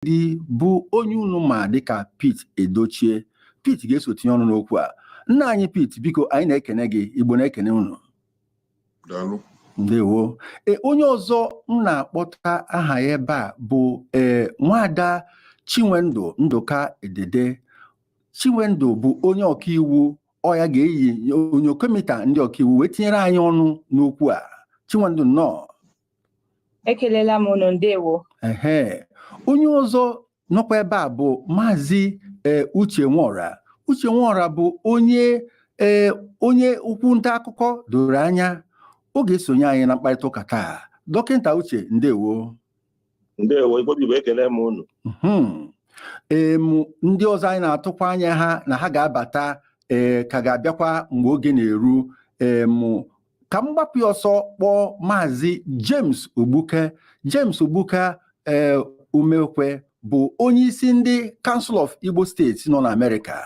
Ndidi bụ onye unu ma dịka Pete Edochie. Pete ga-eso tinye ọnụ n'okwu a. Nna anyị Pete, biko anyị na-ekene gị, Igbo na-ekene unu. Daalụ. Ndewo. E, onye ọzọ m na-akpọta aha ya ebe a bụ ee nwada Chinwendu Ndụka Edede. Chinwendu bụ onye ọkaiwu ọ ya ga-eyi onyokomita ndị ọkaiwu wee tinyere anyị ọnụ n'okwu a. Chinwendu nnọọ. ekelela m unu ndewo ehe onye ọzọ nọkwa ebe a bụ maazị ee uche nwora uche nwora bụ onye ee onye ukwu nta akụkọ doro anya ọ ga-esonye anyị na mkparịta ụka taa dọkịta uche ndewo ndewo Igbo bụ Igbo ekele m unu Mhm. em ndị ọzọ anyị na-atụkwa anya ha na ha ga-abata ee ka ga-abịakwa mgbe oge na-eru em ka m gbapụ ya ọsọ kpọọ maazị James Ogbuka James Ogbuka ee eh, Umekwe bụ onye isi ndị Council of Igbo States nọ n'Amerika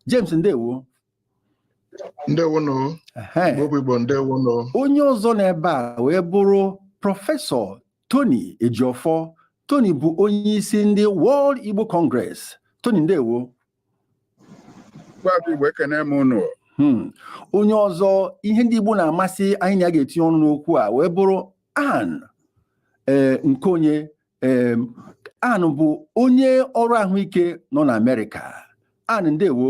James ndewo ndewonụ Igbo ndewonụ onye ọzọ n'ebe a wee bụrụ prọfesọ Tony Ejiofor Tony bụ onye isi ndị World Igbo Congress Tony ndewo Hmm. onye ọzọ ihe ndị Igbo na-amasị anyị na ya ga-etinye ọnụ n'okwu a wee bụrụ Ann eh, Nkeonye eh, Ann bụ onye ọrụ ahụike nọ na Amerịka Ann ndewo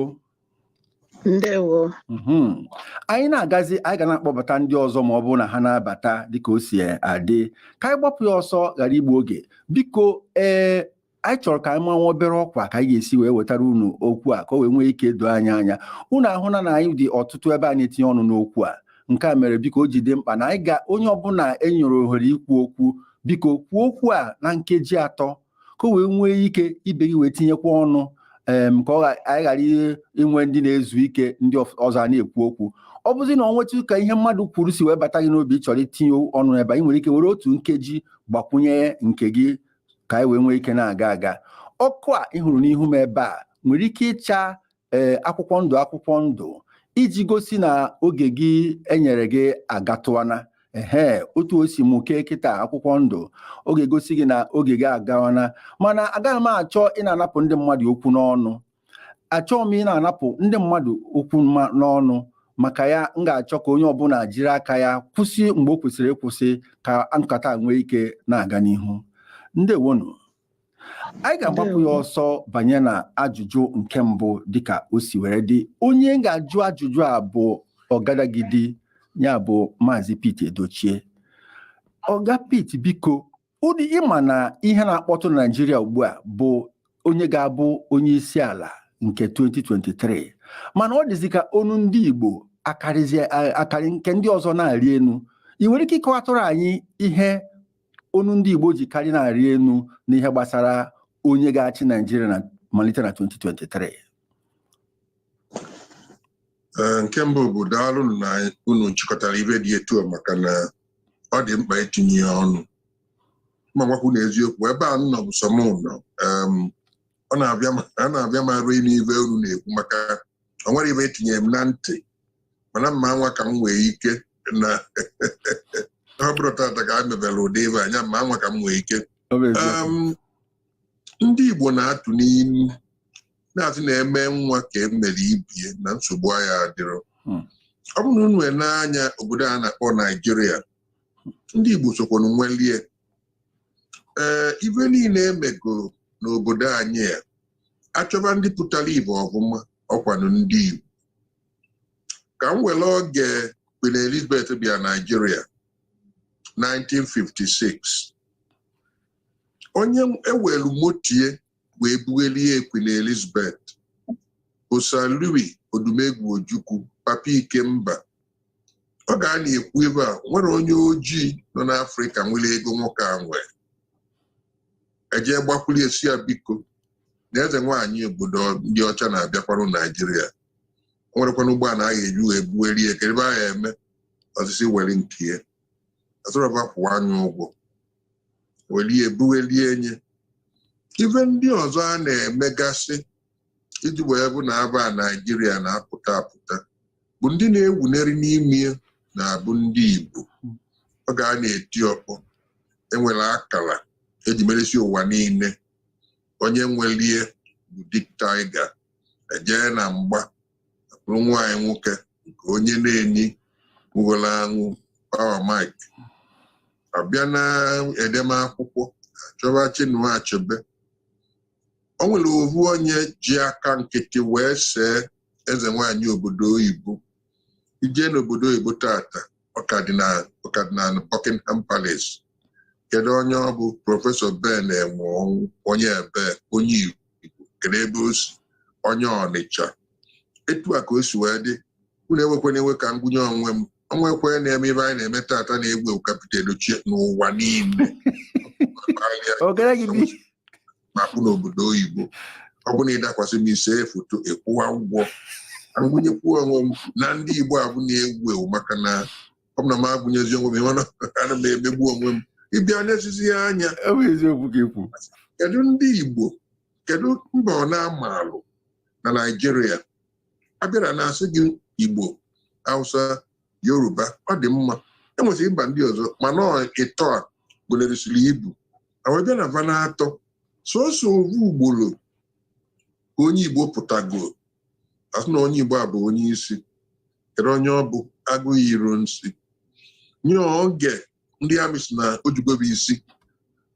ndewo hmm. anyị na-agazi anyị ga na-akpọbata ndị ọzọ ma ọ bụrụ na ha na-abata dịka o si adị ka anyị gbapụ ya ọsọ ghara igbu oge biko ee eh, anyị chọrọ ka anyị manwa obere ọkwa ka anyị ga-esi wee wetara unu okwu a ka o wee nwee ike doo anyị anya unu ahụla na anyị dị ọtụtụ ebe a na-etinye ọnụ n'okwu a nke a mere biko o ji dị mkpa na anyị ga onye ọbụla e nyere ohere ikwu okwu biko kwuo okwu a na nkeji atọ ka o wee nwee ike ibe gị wee tinyekwa ọnụ em ka ọ gha- anyị ghara i- inwe ndị na-ezu ike ndị ọf- ọzọ a na-ekwu okwu ọ bụzi na ọ nwetụ ka ihe mmadụ kwuru si wee bata gị n'obi ị chọrọ itinye ọnụ ebe a, ị nwere ike were otu nkeji gbakwunye nke gị ka anyị wee nwee ike na-aga aga ọkụ a ị hụrụ n'ihu m ebe a nwere ike ịcha ee akwụkwọ ndụ akwụkwọ ndụ iji gosi na oge gị e nyere gị agatụwana ehe otu o si mụke kịta akwụkwọ ndụ ọ ga-egosi gị na oge gị agawana mana agaghị m achọ ịna-anapụ ndị mmadụ okwu n'ọnụ achọghị m ịna-anapụ ndị mmadụ okwu n'ọnụ maka ya m ga-achọ ka onye ọbụla jiri aka ya kwụsị mgbe o kwesịrị ịkwụsị ka nkata nwee ike na-aga n'ihu ndewonu anyị ga-agbapụ ya ọsọ banye na ajụjụ nke mbụ dịka o si were dị onye m ga-ajụ ajụjụ a bụ ọgadagidi ya bụ maazị Pete Edochie ọga Pete biko ụdị ị ma na ihe na-akpọtụ na Naịjirịa ugbu a bụ onye ga-abụ onye isi ala nke 2023 mana ọ dịzi ka onu ndị Igbo akarị nke ndị ọzọ na-arị enu ị nwere ike ịkọwatụrụ anyị ihe onu ndị Igbo ji karị na-arị enu n'ihe gbasara onye ga-achị Naịjirịa na malite na 2023 nke mbụ bụ daalụ na unu chịkọtara ive dị etu a maka na ọ dị mkpa itinye ya ọnụ ma m gwakwuo unu eziokwu ebe a m nọ bụ sọ m nọ em, ọ na-avịa m arụ ịnụ ive unu na-ekwu maka o nwere ive e tinyere m na ntị mana m ma-anwa ka m nwee ike na ọ bụrọ tata ka m mebere ụdị ive a nya m ma-anwa ka m nwee ike Em, ndị Igbo na-atụ n'ilu na-asị na e mee nwa ka e mere ibie na nsogbu aya adịrọ hmm. ọ bụrụ na unu nee anya obodo a na-akpọ Naijiria ndị Igbo sokwanụ nwelie ee eh, ive niile e megoro n'obodo anyị a a chọba ndị pụtara ive ọfụma ọkwanụ ndị Igbo ka m were oge Queen Elizabeth bịa Naijiria 1956 onye e welu motie wee bughelie Queen Elizabeth bụ Sir Louis Odumegwu Ojukwu Papa Ikemba oge a na-ekwu ive a enwerọ onye ojii nọ n'Afrịka nwere ego nwoke a nwere e jee gbakwuru ya sị ya biko na eze nwaanyị obodo ndị ọcha na-abịakwanụ Naijiria o nwerọkwanụ ụgbọala a ga-eji wee bughelie kedu ive a ya-eme ọ sị sị were nke ya asịrọ va kwụwa nya ụgwọ welie bughelie enye ive ndị ọzọ a na-emegasị iji wee bụ na ava Naijiria na-apụta apụta bụ ndị na-ewuneri n'ime ya na-abụ ndị igbo oge a na-eti ọkpọ e nwere akara e ji merisie ụwa niile onye nwelie bụ Dick Tiger e jee na mgba bụrụ nwa anyị nwoke nke onye Neni nwụgoro anwụ Power Mike a bịa na edemakwụkwọ a chọba Chinua Achebe o nwere ovu onye ji aka nkịtị wee see eze nwanyị obodo oyibo i jee n'obodo oyibo tata ọ ka dị na Buckingham Palace kedu onye ọ bụ prọfesọ Ben Enwonwu onye ebe onye igbo kedu ebe o si onye Ọnịcha etu a ka o si wee dị unu ewekwana iwe ka m gụnye onwe m o nwekwe na-eme ive anyị na-eme tata na-ewu ewu ka Pete Edochie n'ụwa niile m pụọ n'obodo oyibo ọ bụrụ na ị dakwasị m ise foto ị kwụwa ụgwọ m gụnyekwuo onwe m na ndị Igbo avụ na-ewu ewu maka na ọ bụ na m agụnyezi onwe m ihe na ana m emegbu onwe m ị bịa n'ezizi ya anya ọ bụ eziokwu ka i kwu kedu ndị Igbo kedu mba ọ na-amalụ na Naịjirịa a bịa a na-asị gị Igbo Hausa Yoruba ọ dị mma enwesịrị mba ndị ọzọ mana ịtọ a gụlerisiri ibu e wee bịa na va n'atọ sọsọ ovu ugboro ka onye Igbo pụtago a sị na onye Igbo a bụ onye isi kedu onye ọ bụ Aguiyi Ironsi nye oge ndị amị sị na o jugo ba isi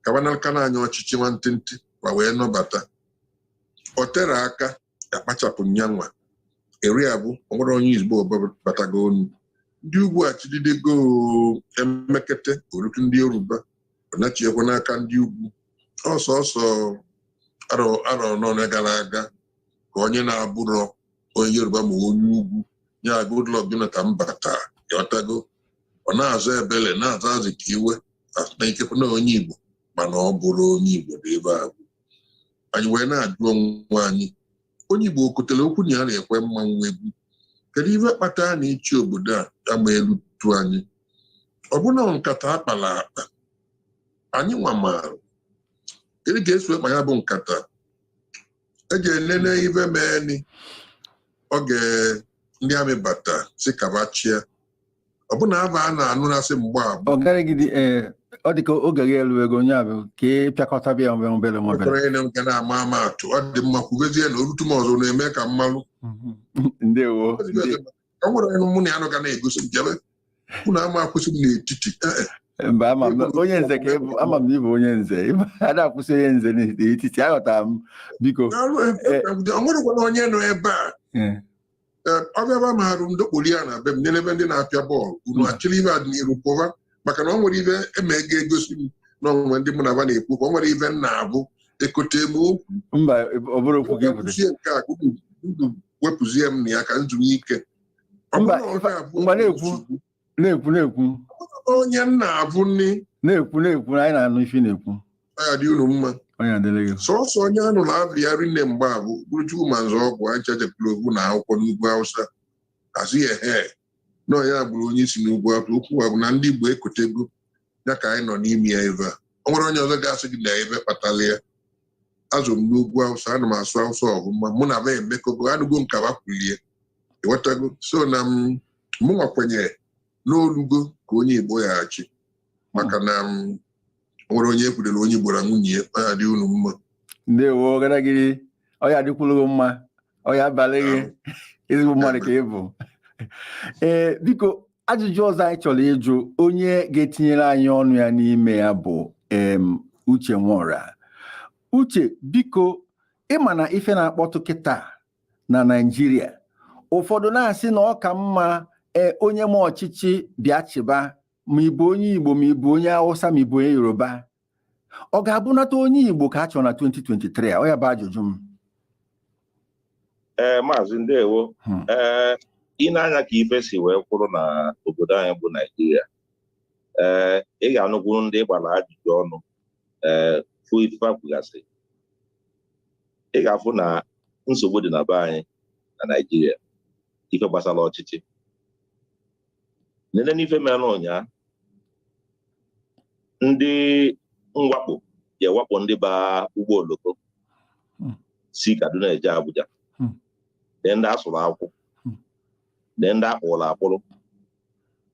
ka ba naka na anya ọchịchị nwantịntị ba wee nọbata o terọ aka a kpachapụ nyanwa eri abụ o nwerọ onye Igbo batago onu ndị ugwu achịdidego e mekete o rutu ndị yoruba ọ nachiekwa n'aka ndị ugwu ọ sọsọ arọ anọ gara aga ka onye na-abụrọ onye yoruba ma onye ugwu ya Goodluck Jonathan bata ịghọtago ọ na-aza Ebele na-aza Azikiwe na ikekwe na onye igbo mana ọ bụrọ onye igbo dị ebe a anyị wee na-ajụ onwe anyị onye igbo o kotere okwu na ya na-ekwe mmanwụ egwu kedu ive kpata na ịchị obodo a ama elutu anyị ọ bụ na nkata a kpala akpa anyị nwa amarọ kedu ka e si akpa ya bụ nkata e ji enene ive meeni oge ndị amị bata sị ka ba chịa ọ bụ na ava a na-anụ na-asị mgbe abụ ọ gaghịgide ee ọ dịka oge gị elugo onye abụ ka ị pịakọta bịa obere obere obere kwekọrọ ịnụ nke na-ama ama atụ ọ dị mma kwubezie na o rutu m ọzọ na-eme ka m malụ ndewo nde- ọ nwere onye mụ na ya nọ ga na-egosi m jebe unu ama akwụsị m n'etiti Eh, eh. mba ama m na- onye nze ka ị bụ ama m na ị bụ onye nze ị bụ a da akwụsị onye nze n'etiti aghọtara m biko N'ọrụ ebe- ọ nwerekwana onye nọ ebe a Eh, Eh, ọ bịaba mahadum ndokpoli ya na be m nene ebe ndị na-apịa bọọlụ unu achịrị ive dị n'iru pụba maka na ọ nwere ive eme ga-egosi m na o nwe ndị mụ na ba na-ekwu ka ọ nwere ive m na-abụ ekote m okwu mba ọ bụrụ okwu gị pụta wepụzie nke a ka unu unu wepụzie m na ya ka m zuru ike Ọ Mba, bụrụ na ọ ife- na-abụ mgbe na-ekwu. nsogbu, na-ekwu na-ekwu onye m na-abụ nne na-ekwu na-ekwu na anyị na-anụ ife ị na-ekwu ọ ya dị unu mma onye adịrị gị sọsọ onye a nụ ava ya rinne mgbe abụ bụrụ Chukwuma Nzeogwu aja jepụrụ ogwu na akwụkwọ n'ugwu hausa a sị ya ehe na ọ ya gburu onye isi n'ugwu awụsa okwu a bụ na ndị Igbo ekotego ya ka anyị nọ n'ime ya ebe a o nwere onye ọzọ ga-asị gị na ive kpatara ya a zụ m n'ugwu awụsa ana m asụ awụsa ọvụma mụ na ba emekọgo anụgo m ka ba kwulie ịghọtago so na m mụnwa kwenyere na o lugo ka onye Igbo ga-achị maka na m nwere onye ekwudere onye gbara nwunye ya ọ ya adị unu mma ndewo ọgaragidi ọ ya adịkwuru gị mma ọ ya abalị gị ezigbo mmadụ ka ị bụ ee biko ajụjụ ọzọ anyị chọrọ ịjụ onye ga-etinyere anyị ọnụ ya n'ime ya bụ em uche nwora uche biko ịma na ife na-akpọtụ kịta na naijiria ụfọdụ na-asị na ọ ka mma ee onye ma ọchịchị bịa chịba ma ị bụ onye Igbo ma ị bụ onye Hausa ma ị bụ onye Yoruba ọ ga-abụnata onye Igbo ka a chọrọ na 2023 a ọ ya bụ ajụjụ m ee eh, maazị ndewo hmm. ee eh, ị nee anya ka ife si wee kwụrụ na obodo anyị bụ Naijiria ee eh, ị ga-anụkwu ndị gbara ajụjụ ọnụ ee fụ ife fa kwugasị ị ga-afụ na nsogbu dị na be anyị na Naijiria ife gbasara ọchịchị nene n'ife mere ụnyaa ndị mwakpo jee wakpo ndị ba ụgbọ oloko hmm. si Kaduna eje Abuja hmm. nee ndị a sụrụ akwụ hmm. nee ndị a kpụrụ akpụrụ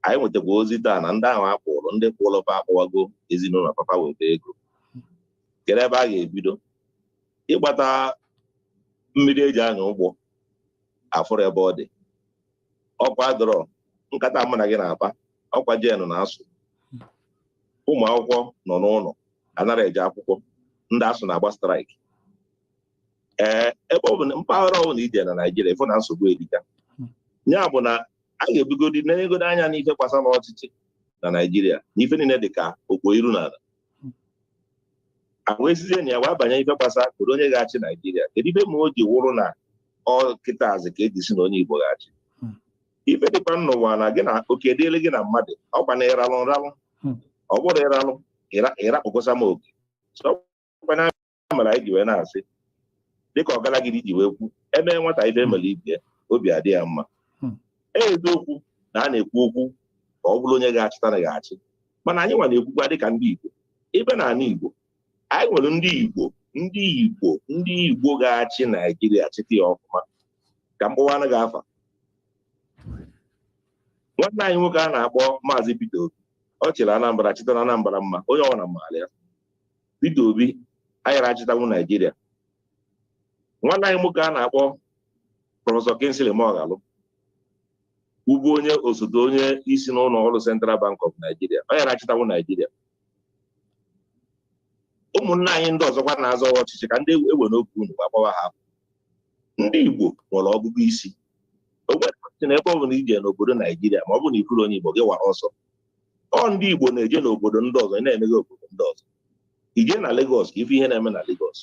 anyị nwetakwa ozi taa na ndị ahụ a kpụrụ ndị kpụrụ fa akpọwago ezinụlọ fa fa weta ego kedu ebe a ga-ebido ịgbata mmiri eji anya ụgbọ afụrọ ebe ọ dị ọkụ adịrọ nkata mụ na gị na-akpa ọkwa jenụ na-asụ ụmụ akwụkwọ nọ n'ụlọ anarọ eje akwụkwọ ndị ASUU na-agba straịkị ee ebe ọ bụna mpaghara ọ bụla ije na naijiria ịfụ na nsogbu erika ya bụ na a ga-ebugodi nenyegodi anya n'ife gbasara ọchịchị na naijiria na ife niile dị ka o kpu iru n'ala e wee sizie na ya wee banye ife gbasara kedu onye ga-achị naijiria kedu ife mere o ji wụrụ na ọ kịta azị ka eji si na onye igbo ga-achị hmm. ife dịkwa n'ụwa na gị na oke dịrị gị na mmadụ ọkwa na ị ralụ m ralụ hmm. ọ bụrọ ị ralụ ịrakpụkọsa m oke ya mere anyị ji wee na-asị dịka ọgaragidi ji wee kwu eme nwata ife emere ibe obi adị ya mma hmm. e eziokwu na a na-ekwu okwu ka ọ bụrụ onye ga-achịtanwu ga-achị mana anyị nwa na-ekwukwa dịka ndị Igbo bi na ala Igbo anyị nwere ndị Igbo ga-achị Naijiria chịta ya ọfụma ka m kpọwara gị afa nwanne anyị nwoke a na-akpọ Maazị Peter Obi ọ chịrị Anambra chịta Anambra mma onye ọbụla maara ya Peter Obi yara achịtanwu Naijiria nwanne anyị nwoke a na-akpọ prọfesọ Kingsley Moghalu bụbu onye osote onye isi n'ụlọ ọrụ Central Bank of Nigeria ọ yara achịtanwu Naijiria ụmụnne anyị ndị ọzọkwa na-azọ ọchịchị ka ndị enwerọ oge unu gbagbawa ha ndị Igbo nwere ọgụgụ isi ogbe na ebe ọ bụla ije n'obodo Naijiria ma ọ bụ na ị fụrọ onye Igbo gị gbaa ọsọ ọ ndị Igbo na-eje n'obodo ndị ọzọ na-emeghe obodo ndị ọzọ i je na Lagos ka ị fụ ihe na-eme na Lagos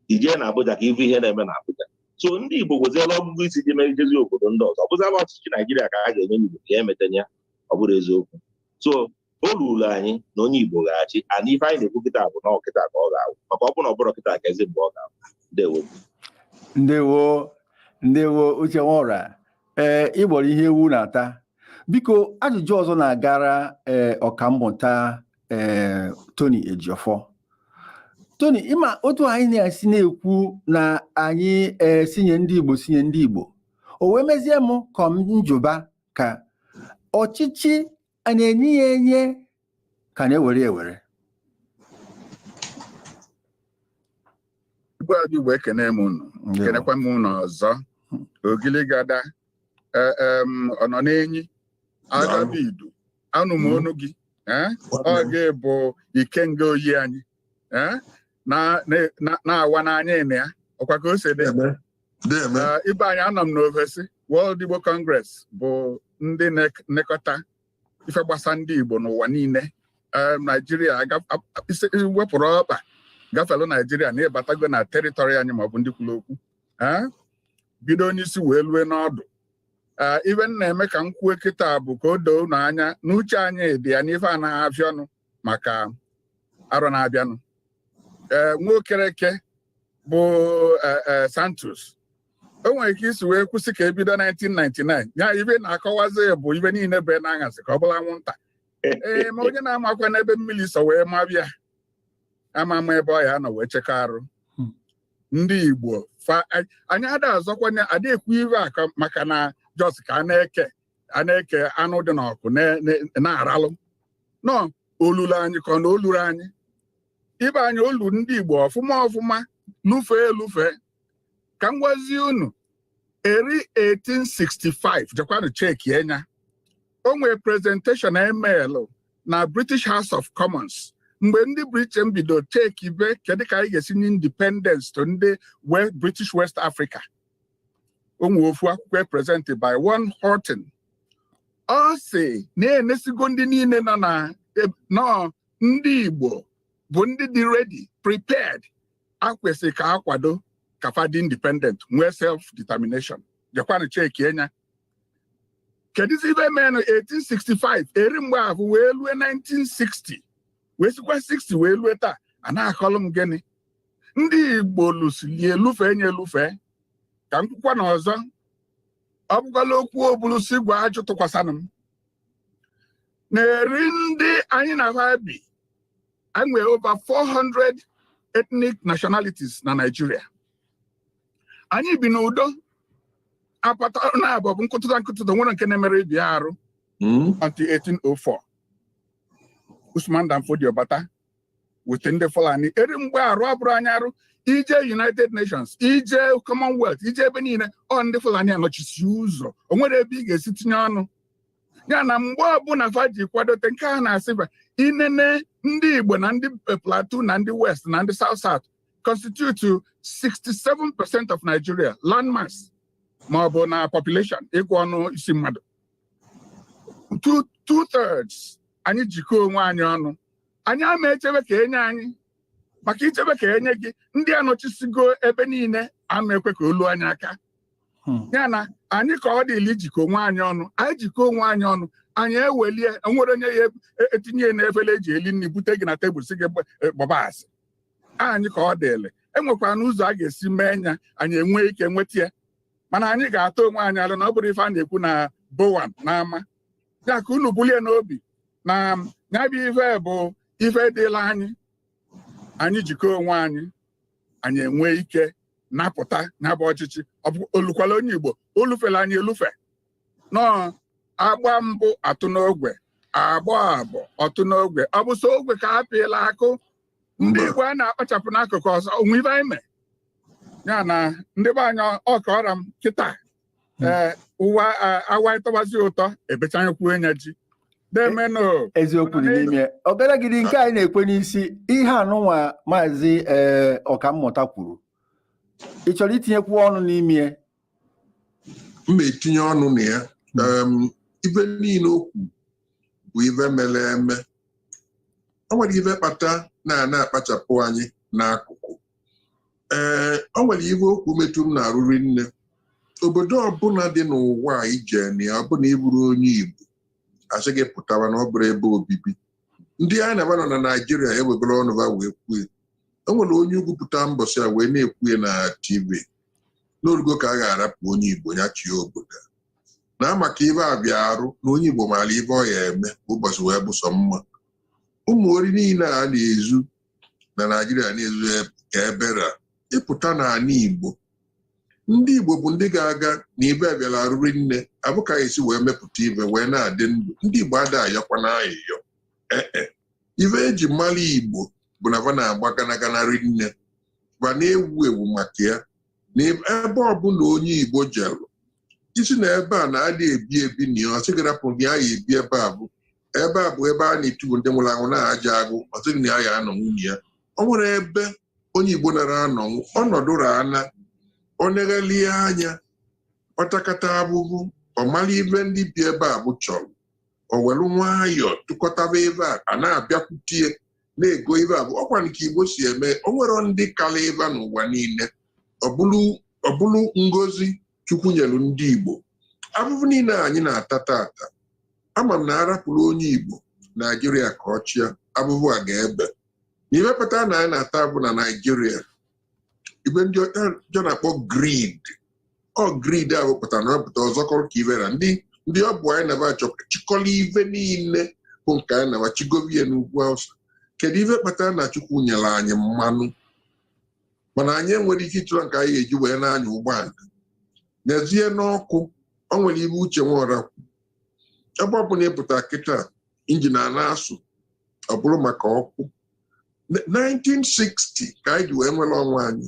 i je na Abuja ka ị fụ ihe na-eme na Abuja so ndị Igbo nweziela ọgụgụ isi ji mee ijezi obodo ndị ọzọ ọ bụzala ọchịchị Naijiria ka a ga-enye onye Igbo ka ya emetanye ya ọ bụrụ eziokwu so o ruru anyị na onye Igbo ga-achị ana ife anyị na-ekwu kịta bụ na ọ kịta ka ọ ga-awụ maka ọ bụrụ na ọ bụrọ kịta keezi mgbe ọ ga-awụ ndewo ndewo ndewo Uche Nworah ee eh, ị gbọrọ ihe ewu na-ata biko ajụjụ ọzọ na-agara ee eh, ọkammụta ee eh, Tony Ejiofor Tony ị ma otu anyị na-esi na-ekwu na anyị ee sị nye ndị Igbo sị nye ndị Igbo o wee mezie m ka m jụba ka ọchịchị a na-enye ya enye ka a na-ewere ya ewere Igbo bụ Igbo ekene m unu kenekwa m unu ọzọ ogiligada e, em, ọ nọ n'enyi Agabaidu anụ m onu gị eh? ọ gị bụ Ikenga Oyi anyị eh? na- na- na- na-awa n'anya ịnị ya ọ kwa ka o si dị ibe anyị anọ m n'ovesi World Igbo Congress bụ ndị na-enekọta ife gbasa ndị Igbo n'ụwa niile Naijiria i wepụrụ ọkpa gafelu Naijiria na ị batago na teritori anyị ma ọ bụ ndị kwuru okwu bido n'isi wee lue n'ọdụ ife m na-eme ka m kwuo kịta bụ ka o doo unu anya na uche anyị dị ya n'ife anaghị afịa ọnụ maka arọ na-abịanụ ee nwa Okereke bụ Sanctus o nwere ka i si wee kwu sị ka e bido 1999 ya ife na-akọwazi bụ ife niile be n'aṅasị ka ọ bụlụ anwụnta ee ma onye na-amakwa n'ebe mmiri si wee maba ya ama ama ebe ọ ya-anọ wee chekọ arụ hmm. ndị Igbo anyị ada azọkwanye ada ekwu ife aka maka na just ka a na-eke a na-eke anụ dị n'ọkụ na-aralụ na o lulu anyị ka ọ na o lurọ anyị ibe anyị o lu ndị Igbo ọfụma ọfụma lufee elufee ka m gwazie unu eri 1865 jekwanụ chekie nya o nwee presentation e melụ na British House of Commons mgbe ndị Britain bido chekibe kedu ka anyị ga-esi nye independence to ndị British West Africa o nwe ofu akwụkwọ e presented by one Horton ọ sị na e nesigo ndị niile nọ na e, na ọ ndị Igbo bụ ndị dị ready prepared e kwesị ka a kwado ka fa dị independent nwee self determination jekwanụ chekie nya kedụzi ife menụ 1865 eri mgbe ahụ wee lue 1960 wee sikwa 60 wee lue taa a na-akọlụ m gịnị ndị igbo lụsili elufe enye elufe ka m kwukwa na ọzọ ọ bụkwala okwu obulu si gwọọ ajụ tụkwasịnụ m na-eri ndị anyị na ha bi anyị over 400 ethnic nationalities na Nigeria anyị bi n'udo apata na abụ bụ nkụtụta nkụtụta nwere nke na-emere ibi arụ hmm? until 1804 Usman Dan Fodio bata wete ndị Fulani eri mgbe arụ abụrọ anyị arụ i je United Nations i je Commonwealth i je ebe niile ọ ndị Fulani anọchisi ụzọ o nwerọ ebe ị ga-esi tinye ọnụ ya na mgbe ọbụna fa ji kwadote nke a na-asị fa i nene ndị Igbo na ndị Plateau na ndị West na ndị South South constitute 67 percent of Nigeria landmass ma ọ bụ na population ịgụ ọnụ isi mmadụ two thirds anyị jikọọ onwe anyị ọnụ anyị ama echebe ka e nye anyị maka i chebe ka e nye gị ndị a nọchisigo ebe niile ama ekwe ka o lu anyị aka hmm. ya na anyị ka ọ dịlị ijikọ onwe anyị ọnụ anyị jikọ onwe anyị ọnụ anyị ewelie o nwerọ onye ya e, etinye na efere eji eli nri bute gị na tebụl sị gị e, gbaba azị anyị ka ọ dịlị e nwekwanụ ụzọ a ga-esi mee nya anyị enwee ike nweta ya mana anyị ga-atụ onwe anyị alo na ọ bụrọ ife a na-ekwu n'ọgbọ na n'ama ya ka unu bulie n'obi na ya bụ ife bụ ife dịlị anyị anyị jikọọ onwe anyị anyị enwee ike napụta ya bụ ọchịchị o lukwala onye Igbo o lufelu anyị elufe na a gbaa mbụ ọ tụọ n'ogwe a gbaa abụọ ọ tụọ n'ogwe ọ bụ sọ ogwe ka a pịalụ akụ ndị Igbo a na-akpachapụ n'akụkụ ọzọ o nwe ife anyị mee ya na ndị be anyị ọ ka ọ ra m kịta hmm. ee ụwa awa ịtọwazi ụtọ ebechaghịkwuo nya ji na-emenụ e, eziokwu dị n'ime obere gidi nke anyị na-ekwe n'isi ihe anụnwa maazị ee ọkammụta kwuru ị chọrọ itinyekwu ọnụ n'ime m ma etinye ọnụ na ya hmm. ive niile o kwu bụ ive mere eme o nwere ive kpata na a na-akpachapụ anyị n'akụkụ ee o nwere ive o kwu metụ m n'arụ rinne obodo ọbụna dị n'ụwa a i je na ya ọ bụ na ị vụrọ onye Igbo a sị gị pụta na ọ bụrọ ebe obibi ndị anyị na va nọ na Naịjirịa ewebere ọnụ ha wee kwue e nwere onye ugwu pụta mbọsị a wee na-ekwue na TV na o rugo ka a ga-arapụ onye Igbo ya chie obodo na maka ibe abịa arụ na onye Igbo maara ive ọ ya eme ụbọchị wee bụ sọ mma ụmụ ori niile a na-ezu na naijiria na-ezu ka ebere ịpụta n'ana igbo ndị igbo bụ ndị ga-aga na ive abịala arụ rinne avụ ka e si wee mepụta ive wee na-adị ndụ ndị igbo ada ayọkwana ayịyọ ee e. ive e ji mara igbo bụ na va na-agba ganagana rinne va na-ewu ewu maka ya na ebe ọbụla onye igbo jelu ị sị na ebe a na adị ebi ebi na ya ọ sị gị rapụ na ya ya ebi ebe avụ ebe a bụ ebe a na-etuvu ndị nwụrụ anwụ n'ajọ agụ ọ sị gị na ya ya anọnwu na ya o nwerọ ebe onye igbo nara anọnwu ọ nọdụ ana o neghalịa anya ọ takata avụvụ ọ mara ive ndị bi ebe avụ chọrọ o welu nwayọọ tụkọtaba ive a a na-abịakwutie na-ego ive avụ ọkwanị ka igbo si eme o nwerọ ndị kalị va n'ụwa niile ọ bụrụ ngozi Chukwu nyelu ndị Igbo avụvụ niile anyị na-ata tata ama m na a rapụrụ onye Igbo Naijiria ka ọ chịa avụvụ a ga-ebe na ive kpata na anyị na-ata avụvụ na Naijiria ive ndị ọcha na-akpọ greed ọ greed a wepụtara na wepụta ọzọ kọrọ ka ivera ndị ndị ọ bụ anyị na va chọpụta chịkọla ive niile bụ nke anyị na va chigovie n'ugwu Hausa kedu ife kpatara na Chukwu nyere anyị mmanụ mana anyị enwerọ ike ịchụrụ nke anyị ga-eji wee na-anya ụgbọala n'ezie n'ọkụ o nwere ive Uche Nwọra kwu ebe ọ bụla ị pụta kịta injin a na-asụ ọ bụrụ maka ọkụ Na- 1960 ka anyị ji wee nwere onwe anyị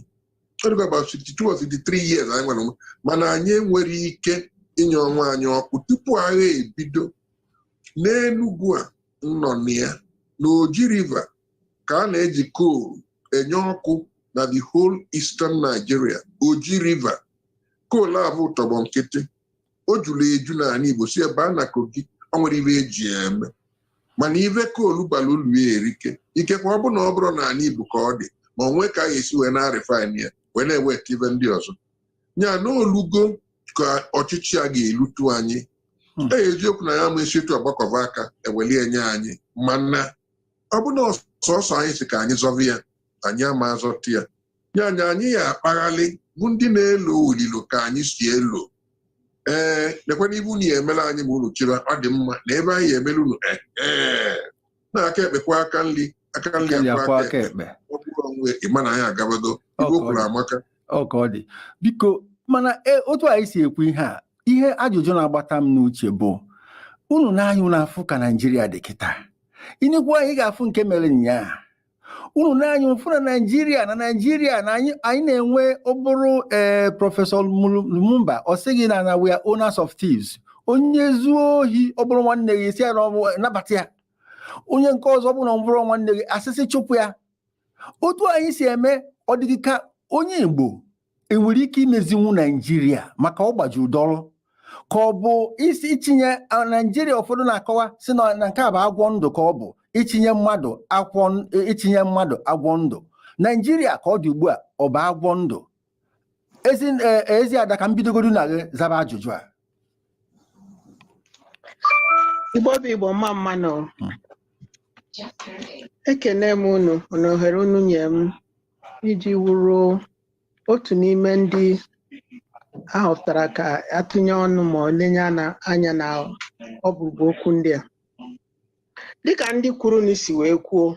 ọ dịkwa about 62 or 63 years anyị nwere onwe mana anyị enwerọ ike inye onwe anyị ọkụ tupu agha ebido n'Enugu a m nọ na ya na Oji River ka a na-eji coal enye ọkụ na the whole eastern Nigeria Oji River coal avụ tọgbọ nkịtị o juru eju n'ana Igbo si ebe a naa Kogi o nwerọ ive e ji ya eme mana ive coal bara ulu ya erike ikekwa ọ bụ na ọ bụrọ n'ana Igbo ka ọ dị ma o nwee ka a ga-esi wee na-arefine ya wee na-eweta ive ndị ọzọ ya na olugo ka ọchịchị a ga-elutu anyị Hmm. e eziokwu na ya ma e si etu a gbakọba aka e weli e nye anyị mana ọ bụ na sọsọ anyị sị ka anyị zọvi ya anyị ama azọta ya ya anyị anyị ya akpaghalị vụ ndị na-elo olilo ka anyị si elo ee nekwana ive unu ya emelu anyị ma unu chịba ọ dị mma na ive anyị ya emelu unu ee ee na aka ekpe kwọọ aka nri aka nri akwọọ aka ekpe. ọ bụrụ onwe ị ma na anyị agabago ive o kwuru amaka ọ ka ọ dị biko mana e, otu anyị si ekwu ihe a ihe ajụjụ na-agbata m n'uche bụ unu n'anya unu afụ ka naijiria dị kịta i nekwa anya ị ga-afụ nke mere nyaa unu na-anya ụfụ na naijiria na naijiria na anyị anyị na-enwe ọ bụrụ ee eh, prọfesọ lumumba ọ sịghị na na we are owners of thieves onye zuo ohi ọ bụrụ nwanne gị ị sị ya nabata ya onye nke ọzọ bụrụ na ọ bụrọ nwanne gị a sị sị chụpụ ya otu anyị si eme ọ dị gị ka onye Igbo enwere ike imezinwu Naijiria maka ọ gbajuru dọrọ ka ọ bụ ịchịnye Naijiria ụfọdụ na-akọwa si na nke a bụ agwọ ndụ ka ọ bụ ịchịnye mmadụ ịchịnye mmadụ agwọ ndụ Naijiria ka ọ dị ugbu a ọ bụ agwọ ndụ ezi eziada ka m bidogodu na gị zaba ajụjụ a igbo bụ igbo mma mma nụ hmm. ekene m unu na ohere unu nye m iji wuru otu n'ime ndị ahọpụtara ka atụnye ọnụ ma ọ lenye anya na ọkpụrụkpụ okwu ndị a dịka ndị kwuru na isi wee kwuo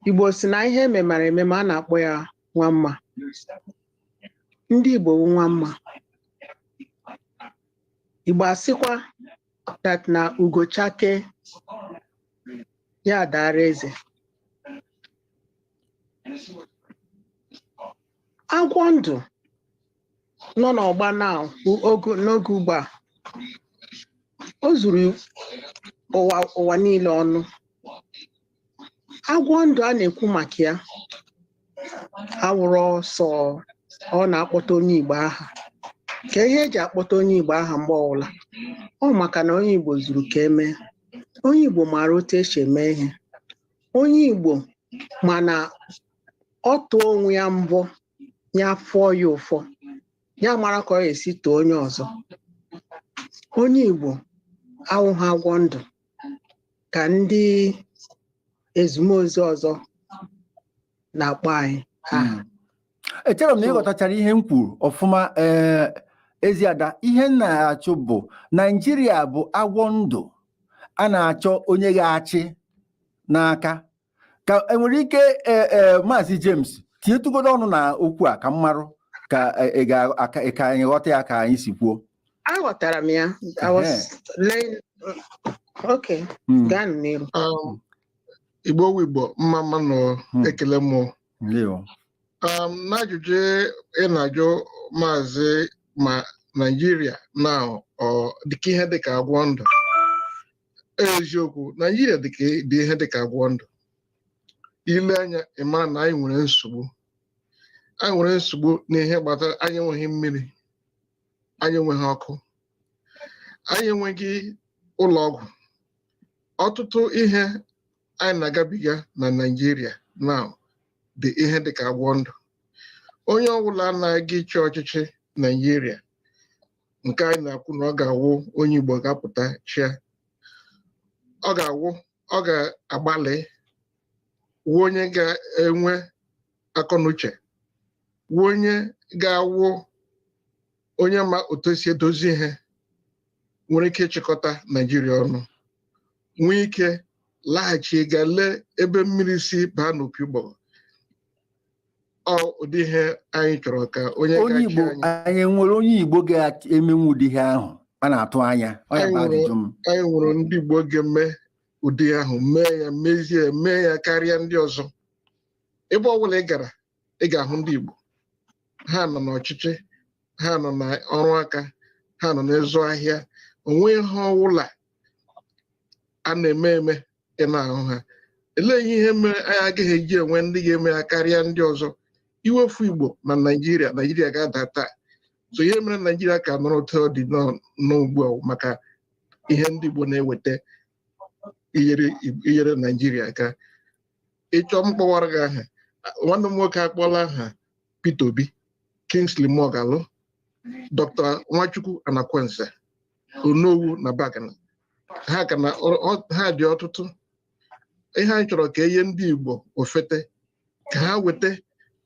Igbo si na ihe e memara emema a na-akpọ ya nwa mma. Ndị Igbo wụ nwa mma. Igbo asịkwa that na ugo chakee ya adaara eze. Agwọ ndụ nọ n'ọgba na n'oge ugbu a o zuru ụwa niile ọnụ agwọ ndụ a na-ekwu maka ya awụrụ sọ ọ na-akpọta onye Igbo aha ka ihe eji akpọta onye Igbo aha mgbe ọbụla ọ maka na onye Igbo zuru ka emee onye Igbo maara otu esi eme ihe onye Igbo ma na ọ tụọ onwe ya mbọ ya afụọ ya ụfụ ya amara ka ọ ga-esi tụọ onye ọzọ onye Igbo awụghị agwọ ndụ ka ndị ezumezu ọzọ na-akpọ anyị aha Mm. echerọ m na So- ịghọtachara ihe m kwuru ọfụma ee eziada ihe m na-ajụ bụ naijiria bụ agwọ ndụ a na-achọ onye ga-achị n'aka ka enwere ike e, e, maazị James tinyetụgodo ọnụ na okwu a ka m marụ ka e, ka anyị ghọta ya ka anyị si kwuo aghọtara m ya hmm. gaa n'iru um, igbo wụ igbo mma mma nụ hmm. ekele m um, n'ajụjụ ị na-ajụ maazị ma Naijiria na dịka ihe dịka agwọ ndụ eziokwu naijiria dị ihe dị ka agwọ ndụ i lee anya ị mara na anyị nwere nsogbu anyị nwere nsogbu n'ihe gbasara anyị enweghị mmiri anyị enweghị ọkụ anyị enweghị ụlọ ọgwụ ọtụtụ ihe anyị na-agabiga na naijiria na dị ihe dị ka agwọ ndụ onye ọbụla na-aga ịchị ọchịchị naijiria nke anyị na-ekwu na ọ ga-awụ onye Igbo ga-apụta chịa ọ ga-awụ ọ ga-agbalị wụ onye ga-enwe akọnuche wụ onye ga-awụ onye ma otu esi edozi ihe nwere ike ịchịkọta Naijiria ọnụ nwee ike laghachi ga lee ebe mmiri si baa n'opi ụgbọgọ ọ ụdị ihe anyị chọrọ ka onye onye ga-achị igbo anyị anyị nwere onye igbo ga-emenwu ụdị ihe ahụ a na-atụ anya ọ ya bụ Anyị ajụjụ m anyị nwere ndị Igbo ga-eme ụdị ihe ahụ mee ya mezie mee ya karịa ndị ọzọ ebe ọ bụla ị gara ị ga-ahụ ndị Igbo ha nọ n'ọchịchị ha nọ na ọrụ aka ha nọ n'ịzụ ahịa o nwee ihe ọbụla a na-eme eme ị na-ahụ ha elee ihe mere anyị agaghị eji enwe ndị ga-eme ya karịa ndị ọzọ i wefu igbo na naijiria naijiria ga-ada taa so ihe mere naijiria ka nọrọ otu ọ dị n'ugbu a maka ihe ndị igbo na-eweta inyere naijiria aka ị chọọ m kpọwara gị aha nwanne m nwoke akpọla aha Peter Obi Kingsley Moghalu Dr. Nwachukwu Anakwenze onowu n'abagana ha ka na ọ- ọ- ha dị ọtụtụ ihe anyị chọrọ ka e nye ndị igbo ofete ka ha weta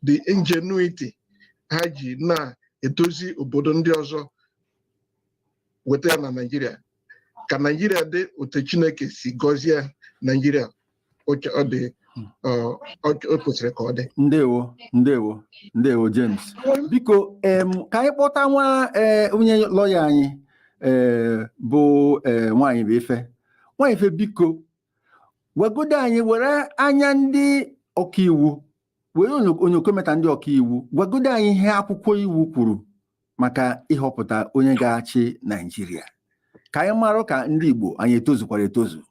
the ingenuity ha ji na-edozi obodo ndị ọzọ weta ya na naijiria ka naijiria dị otu chineke si gọzie naijiria otu o kwesịrị ka ọ dị ndewo ndewo ndewo James biko ka anyị kpọta nwa e, onye lọya anyị e, bụ e, nwaanyị bụ ife nwaanyị ife biko gwagodo anyị were anya ndị ọkaiwu were onyokometa ndị ọkaiwu gwagodo anyị ihe akwụkwọ iwu kwuru maka ịhọpụta onye ga-achị Naijiria ka anyị marụ ka ndị Igbo anyị etozukwara etozu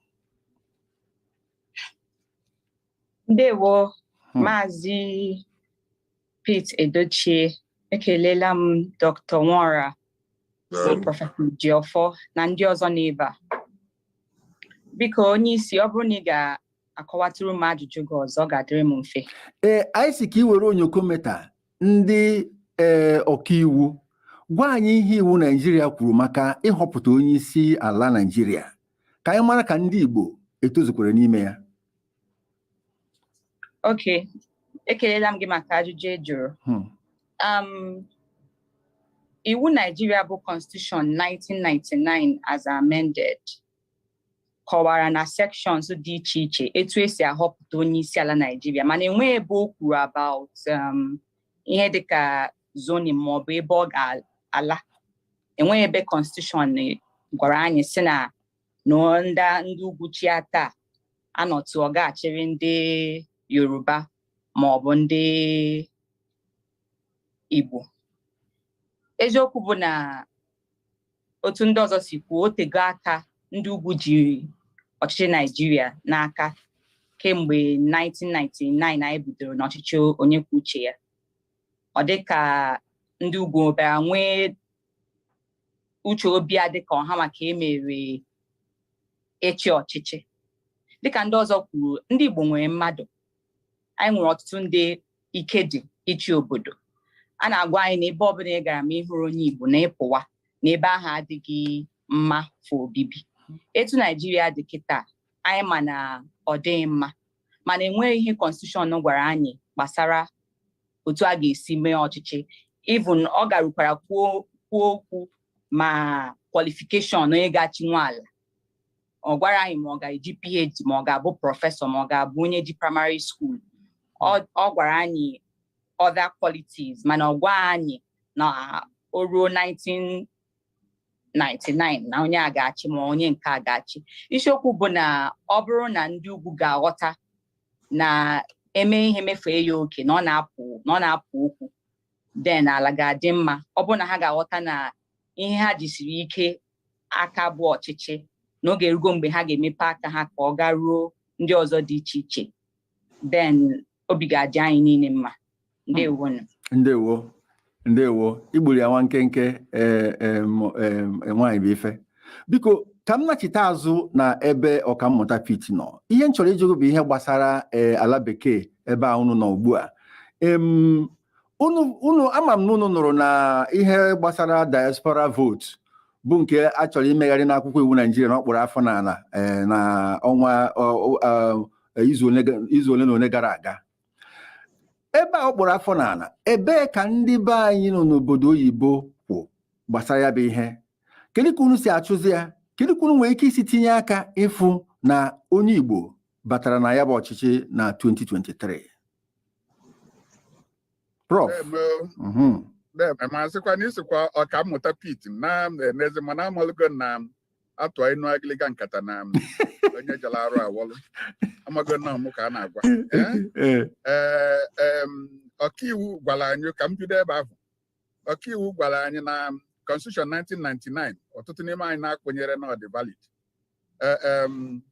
ndewo hmm. maazị Pete Edochie ekelela m Dr. Nwora prọfesọ Ejiọfọ na ndị ọzọ n'ebe a biko onye isi ọ bụrụ na ị ga akọwatụrụ m ajụjụ gị ọzọ ọ ga-adịrị m mfe ee anyị sị ka ị were onyokometa ndị ee eh, ọkaiwu gwa anyị ihe iwu naijiria kwuru maka ịhọpụta onye isi ala naijiria ka anyị mara ka ndị igbo etozukwara n'ime ya ok ekelela m gị maka ajụjụ ị jụrụ hmm. um, iwu naijiria bụ constitution 1999 as amended kọwara na sections dị iche iche etu e si ahọpụta onye isi ala Naijiria mana enweghị ebe o kwuru about um, ihe dịka zoning maọbụ ebe ọ ga-ala enweghị ebe constitution gwara anyị sị na ndị ugwu chịa taa a nọtụ ọ ga-achịrị ndị Yoruba maọbụ ndị Igbo eziokwu bụ na otu ndị ọzọ si kwuo o tego aka ndị ugwu ji ọchịchị naijiria n'aka kemgbe 1999 anyị bidoro n'ọchịchị onye kwuo uche ya ọ dị ka ndị ugwu bịara nwee uche obi a dịka ọ ha ma ka e mere ịchị ọchịchị dịka ndị ọzọ kwuru ndị igbo nwere mmadụ anyị nwere ọtụtụ ndị ike dị ịchị obodo a na-agwa anyị na ebe ọbụla ị gara ma ị hụghị onye Igbo na ị pụwa na ebe ahụ adịghị mma for obibi etu Naijiria dị kịta anyị ma na ọ dịghị mma mana enweghị ihe constitution gwara anyị gbasara otu a ga-esi mee ọchịchị even ọ garukwara kwuo okwu ma qualification onye ga-achị nwa ala ọ gwara anyị ma ọ ga-eji PhD ma ọ ga-abụ professor ma ọ ga-abụ onye ji primary school ọ gwara anyị other qualities mana ọ gwaghị anyị na o ruo 1999 na onye a ga-achị ma onye nke a ga-achị isiokwu bụ na ọ bụrụ na ndị ugwu ga-aghọta na e mee ihe mefee ya oke na ọ na-apụ okwu then ala ga-adị mma ọ bụrụ na ha ga-aghọta na ihe ha jisiri ike aka bụ ọchịchị na oge erugo mgbe ha ga-emepe aka ha ka ọ garuo ndị ọzọ dị iche iche then obi ga-adị anyị niile mma ndewo ndewo ndewo i gburu ya nwa nkenke e, e, e, nwaanyị bụ ife biko ka m nachite azụ na ebe ọkammụta Pete nọ ihe m chọrọ ịjụ gị bụ ihe gbasara ala bekee ebe a unu nọ ugbu a unu unu ama m na unu nụrụ na ihe gbasara diaspora vote bụ nke a chọrọ imegharị n'akwụkwọ iwu naịjirịa na o kpuru afọ n'ala eh, na ọnwa ọ- ọ- eh, izu ole ga- izu ole na ole gara aga ebe a o kpuru afọ n'ala ebee ka ndị be anyị nọ n'obodo oyibo kwụ gbasara ya bụ ihe kedu ka unu si achụzi ya kedu ka unu nwere ike isi tinye aka ịfụ na onye igbo batara na ya bụ ọchịchị na 2023 prof mhm. masịkwa na isikwa ọkammụta pit na-enezi mana amalụgo m na a tụa inu agịlịga nkata na onye jara arụ awọlụ amago m na ọ mụ ka a na-agwa eh? Eh, ọkaiwu gwara anyị ka m bido ebe ahụ ọkaiwu gwara anyị na constitution 1999 ọtụtụ n'ime anyị na-ekwenyerọ na ọ dị valid Eh, em,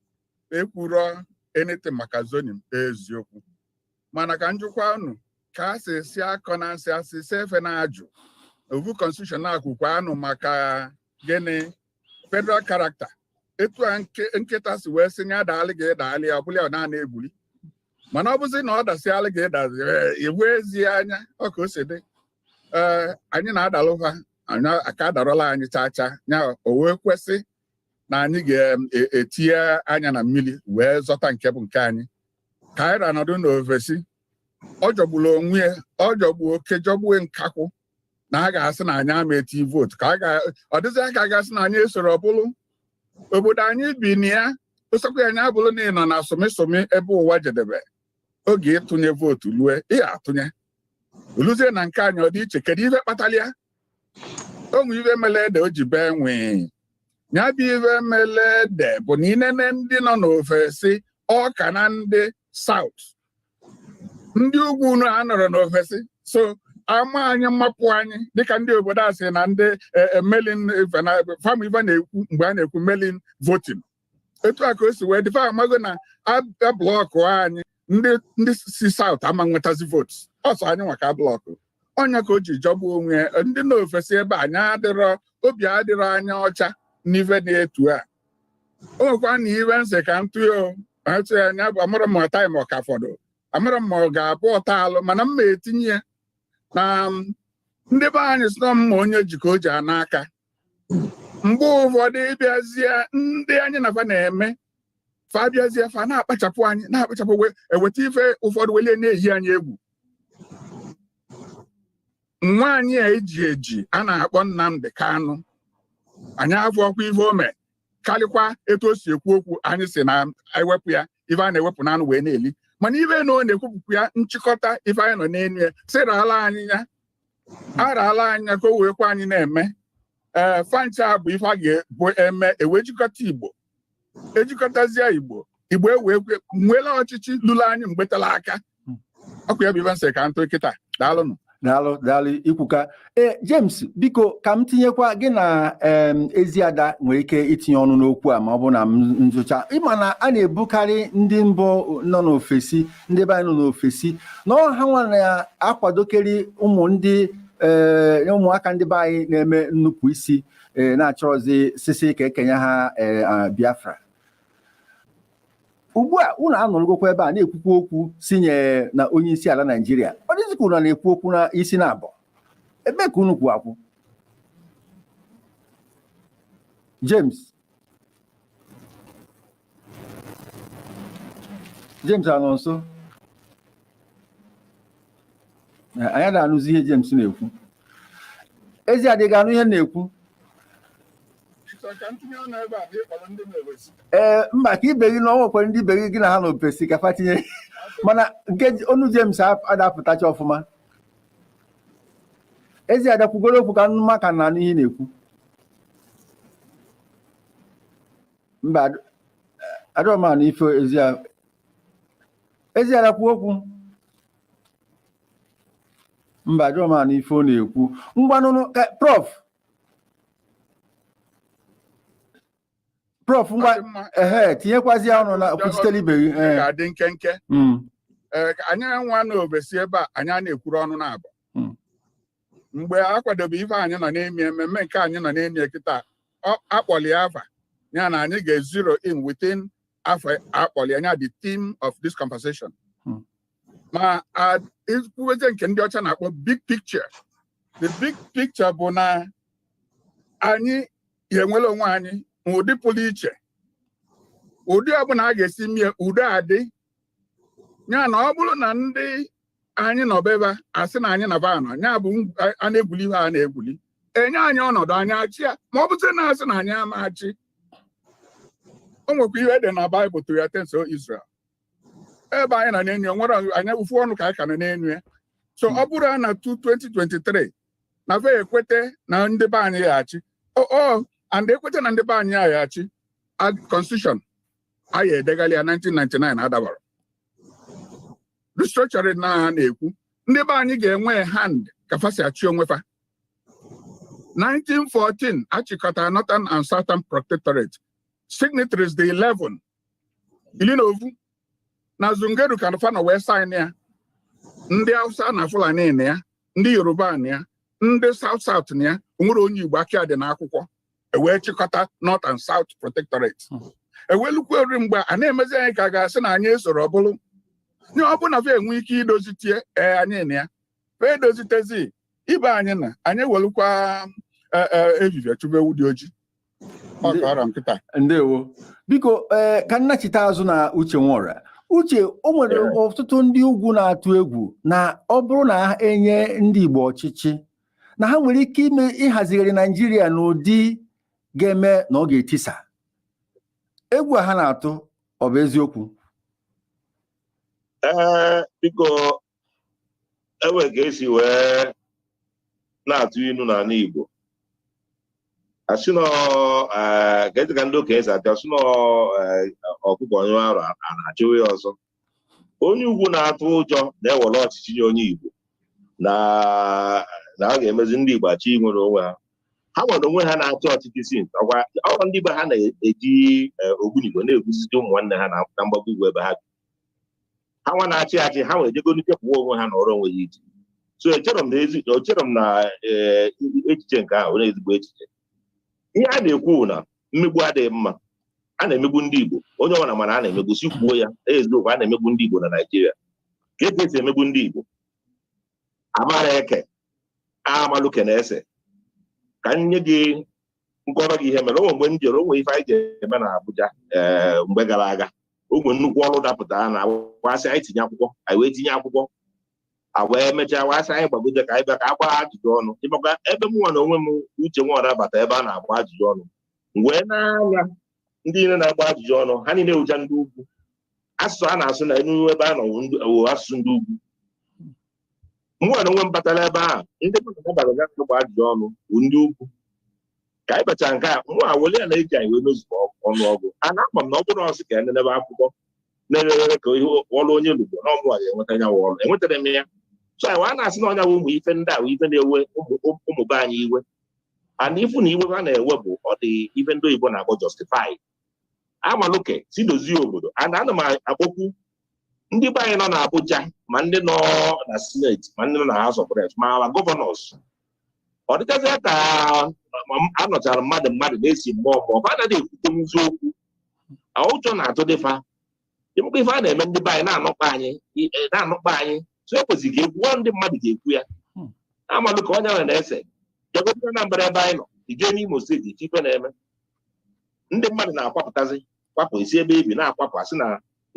ekwuro anything maka zoning eziokwu mana ka m jụkwa unu ka a sị si akọ na nsị asị si efe na-ajụ ovu constitution na-ekwukwanụ maka gịnị federal character etu a nke- nkịta si wee sị ya daalụ gị daalụ ya ọ bụlụ ya na a na-egwuli mana ọ bụzi na ọ dasịala gị ị dazi iwe ezi anya ọ ka o si dị ee anyị na-adalụ va aka adarọla anyị chaa chaa ya o wee kwesị na anyị ga-etinye anya na mmiri wee zọta nke bụ nke anyị ka anyị ra nọdụ n'ovesi ọ jọgburu onwe ya ọ jọgbuo oke jọgbuo nkakwụ na a ga-asị na anyị ama eti vootu ka ọ dịzịa ka a ga-asị na anyị esoro ọ bụlụ obodo anyị bi na ya ọ sọkwa ya nya bụrụ na ị nọ na sụmịsụmị ebe ụwa jedebe oge ịtụnye vootu lue ị tụnye o luzie na nke anyị ọ dị iche kedu ife kpatara ya o nwe ife mele ede o ji bee nwii ya bụ ife mele ede bụ na i nene ndị nọ n'ofesi ọ ka na ndị saut ndị ugwu unu anọrọ n'ofesi sọ ama anyị mmapụ anyị dịka ndị obodo a sị na ndị e, e, mail-in e, fam ife na-ekwu mgbe a na-ekwu mail-in voting etu a ka o si wee dị fa amago na a blọkụọ anyị ndị si saut ama enwetazi votes ọ sọ anyị nwa ka a blọkụ ọ nya ka o ji jọgbu onwe ya ndị nọ ofesi ebe anyị adịrọ obi adịrọ anyị ọcha n'ife dị etu a o nwekwa na ife m sị ka m tụọ atụ ya anya bụ amarọ m taịm ọ ka fọdụ amarọ m ma ọ ga-abụ ọta alụ mana m ma etinye ya na ndị be anyị sị na ọ mma onye ji ka o ji ana aka mgbe ụfọdụ ịbịazie ndị anyị na fa na-eme fa abịazie fa na-akpachapụ anyị na-akpachapụ eweta ife ụfọdụ welie na-eyi anyị egwu nwa anyị a eji eji a na-akpọ Nnamdi Kanu anyị afụ ọ kwa ife o me karịkwa etu o si ekwu okwu anyị si na e wepụ ya ife a na-ewepụ n'anụ wee na-eli mana ife na ọ na-ekwupụkwu ya nchịkọta ife anyị nọ n'elu ya sị raala anyị ya a raala anyị ya ka o wee kwa anyị na-eme ee fa ncha bụ ife a ga-ebu eme e wee jikọta igbo e jikọtazie igbo igbo ewee kwe- nwela ọchịchị luru anyị mgbe tala aka ọ kwa ya bụ ife m sị ka m tụ kịta daalụnụ daalụ daalụ i kwuka ee James biko ka m tinyekwa gị na em, Eziada nwere ike itinye ọnụ n'okwu a ma ọ bụ na m nzụcha ị ma na a na-ebokarị ndị igbo nọ n'ofesi ndị be anyị nọ n'ofesi na ọ ha nwa na-akwadokarị ụmụ ndị ee eh, ụmụaka ndị be anyị na-eme nnupụ isi eh, na-achọrọzi sị sị ka e kenye ha eh, Biafra ugbu a unu anọrọgokwa ebe a na-ekwukwu okwu si nye na onye isi ala Naijiria ọ dịzi ka unu na-ekwu okwu n'isi naabọ ebee ka unu kwụ akwụ James James anọ nso anyị ada anụzi ihe James na-ekwu Eziada ị ga-anụ ihe na-ekwu ee mba ka ibe gị na ọ nwekwara ndị ibe gị gị na ha nọ ofesi ka fa tinye mana nke onu James ada apụtacha ọfụma Eziada kwugoro okwu ka m ma ka a na-anụ ihe ị na-ekwu mba ada m anụ ife ezi Eziada kwuo okwu mba ada m anụ ife ọ na-ekwu ngwanụnụ prof prof ngwa Ọ dị mma. ehe tinyekwazị ya ọnụ na kwuchitere ibe gị Ọ ee. ga-adị nkenke Mm, Ee, ka anyị nwa n'ofesi ebe a anyị ana-ekwurọ ọnụ naabọ Hmm. mgbe a kwadobe ife anyị nọ na-emi ememme nke anyị nọ na-emi kịta ọ- akpọli ya afa ya na anyị ga-ezero in within afọ akpọli anya the theme of this conversation Hmm. ma a- ikwuweze nke ndị ọcha na-akpọ big picture the big picture bụ na anyị ga-enwere onwe anyị ma ụdị pụrụ iche ụdị ọbụla a ga-esi mie udo adị ya na ọ bụrụ na ndị anyị nọ ebe a asị na anyị na fa anọ ya bụ a na-egwuli ihe a na-egwuli enye anyị ọnọdụ anyị achị ya ma ọ bụzi na asị na anyị ama achị o nwekwa ihe dị na baịbụl to your tents o Israel ebe anyị na-enyo nwere anyị ụfụ ọnụ ka anyị ka na-enyo ya so ọ bụrụ na 2023 na fa ekwete na ndị be anyị ya achị o and ekwete na ndị be anyị ya achị constitution anyị edegharịa 1999 adabara restructuring na ha na-ekwu ndị be anyị ga-enwe hand ka fa si achị onwe fa 1914 achịkọta northern and southern protectorate signatories the 11 ili na ovu na zungeru ka fa nọ wee sign ya ndị hausa na fulani na ya ndị yoruba na ya ndị south south na ya onwerọ onye igbo aka dị n'akwụkwọ ewee chịkọta north and south protectorate hmm. ewelukwa ori mgbe a na-emezi anyị ka ga-asị na anyị esorọ ọbụlụ nye ọ bụ na fa enwe ike idozite ee anyị na ya fa edozitezi ibe anyị na anyị ewelukwa e, e, ehihie chụba ewu dị ojii ndewo biko ee eh, ka m nachite azụ na uche nwọra uche o nwere ọtụtụ ndị ugwu na-atụ egwu na ọ bụrụ na enye ndị Igbo ọchịchị na ha nwere ike ime ịhazigharị Naijiria n'ụdị ga-eme na ọ ga-etisa egwu a ha na-atụ ọ bụ eziokwu ee eh, biko enwe ka esi wee na-atụ inu n'ana Igbo asị na eh, ka esi ka ndị okenye si atụ asị na eh, ọkụkọ nyụọ arụ ana achụwa ya ọsọ onye ugwu na-atụ ụjọ na ewere ọchịchị nye onye Igbo na na a ga-emezi ndị Igbo achọ inwere onwe ha ha nwa na onwe ha na-achị ọchịchị si ọkwa ọrọ ndị be ha na-eji eh, ogbunigwe na-egbusi ụmụnwanne ha na na mgbago ugwu ebe ha bi ha nwa na-achị achị ha nwere ejego n'ikepụwa onwe ha nọrọ onwe ha iche so echere m na ezi echere m na eh, echiche nke ahụ nwere ezigbo echiche ihe a na-ekwu bụ na mmegbu adịghị mma a na-emegbu ndị Igbo onye ọbụla ma na a na-emegbu si kwuo ya eziokwu a na-emegbu ndị Igbo na Naịjirịa ka e esi emegbu ndị Igbo amara eke amaluke na ese ka m nye gị m kọọrọ gị ihe mere onwe mgbe m jere onwe ife anyị ga-eme na Abuja ee eh, mgbe gara aga onwe nnukwu ọrụ dapụtaranụ wa sị anyị tinye akwụkwọ anyị wee tinye akwụkwọ a wee mechaa wa sị anyị gbagote ka anyị bịa ka a gbaa ajụjụ ọnụ ịmakwa ebe m nwa na onwe m uche nwọra bata ebe a na-agba ajụjụ ọnụ wee nee anya ndị niile na-agba ajụjụ ọnụ ha niile bụcha ndị ugwu asụsụ a na-asụ n'ime ebe a nọ asụsụ ndị ugwu mụwa na onwe m batara ebe ahụ ndị mmadụ batara ịgba ajụjụ ọnụ bụ ndị ugwu ka anyị bachara nke mụwa weli ya na-eji anyị wee n'ozugbo ọnụ ọgụ a na-ama m na ọ bụrụ a sị ka ya nenebe akwụkwọ na-erere ka ihe ọrụ onye lugbo na ọ mụwa ga-enweta ya ọrụ enwetarọ m ya so anyị wee na-asị na ọ nya bụ ụmụ ife ndị ahụ ife na-ewe ụmụ be anyị iwe and ifu na iwe ha na-ewe bụ ọ dị ife ndị oyibo na-akpọ justify amalụ ka esi dozie obodo and ana m akpọkwu ndị be anyị nọ na Abuja ma ndị nọ na Senate ma ndị nọ na House of Reps ma ma governors ọ dịkazịa ka anọchara mmadụ mmadụ na-esi mgbe ọ bụ ba anaghị ekwute n'eziokwu ụjọ na-atụdị fa ịmụkwa ife a na-eme ndị be anyị na-anụkpa anyị e, na-anụkpa anyị so ekwesịrị ka ekwuo ndị mmadụ ga-ekwu ya hmm. amalụ ka onye ahụ na-ese jegota Anambra ebe anyị nọ ị jee n'Imo steeti ife ife na-eme ndị mmadụ na-akwapụtazi kwapụ e si ebe e bi na-akwapụ a sị na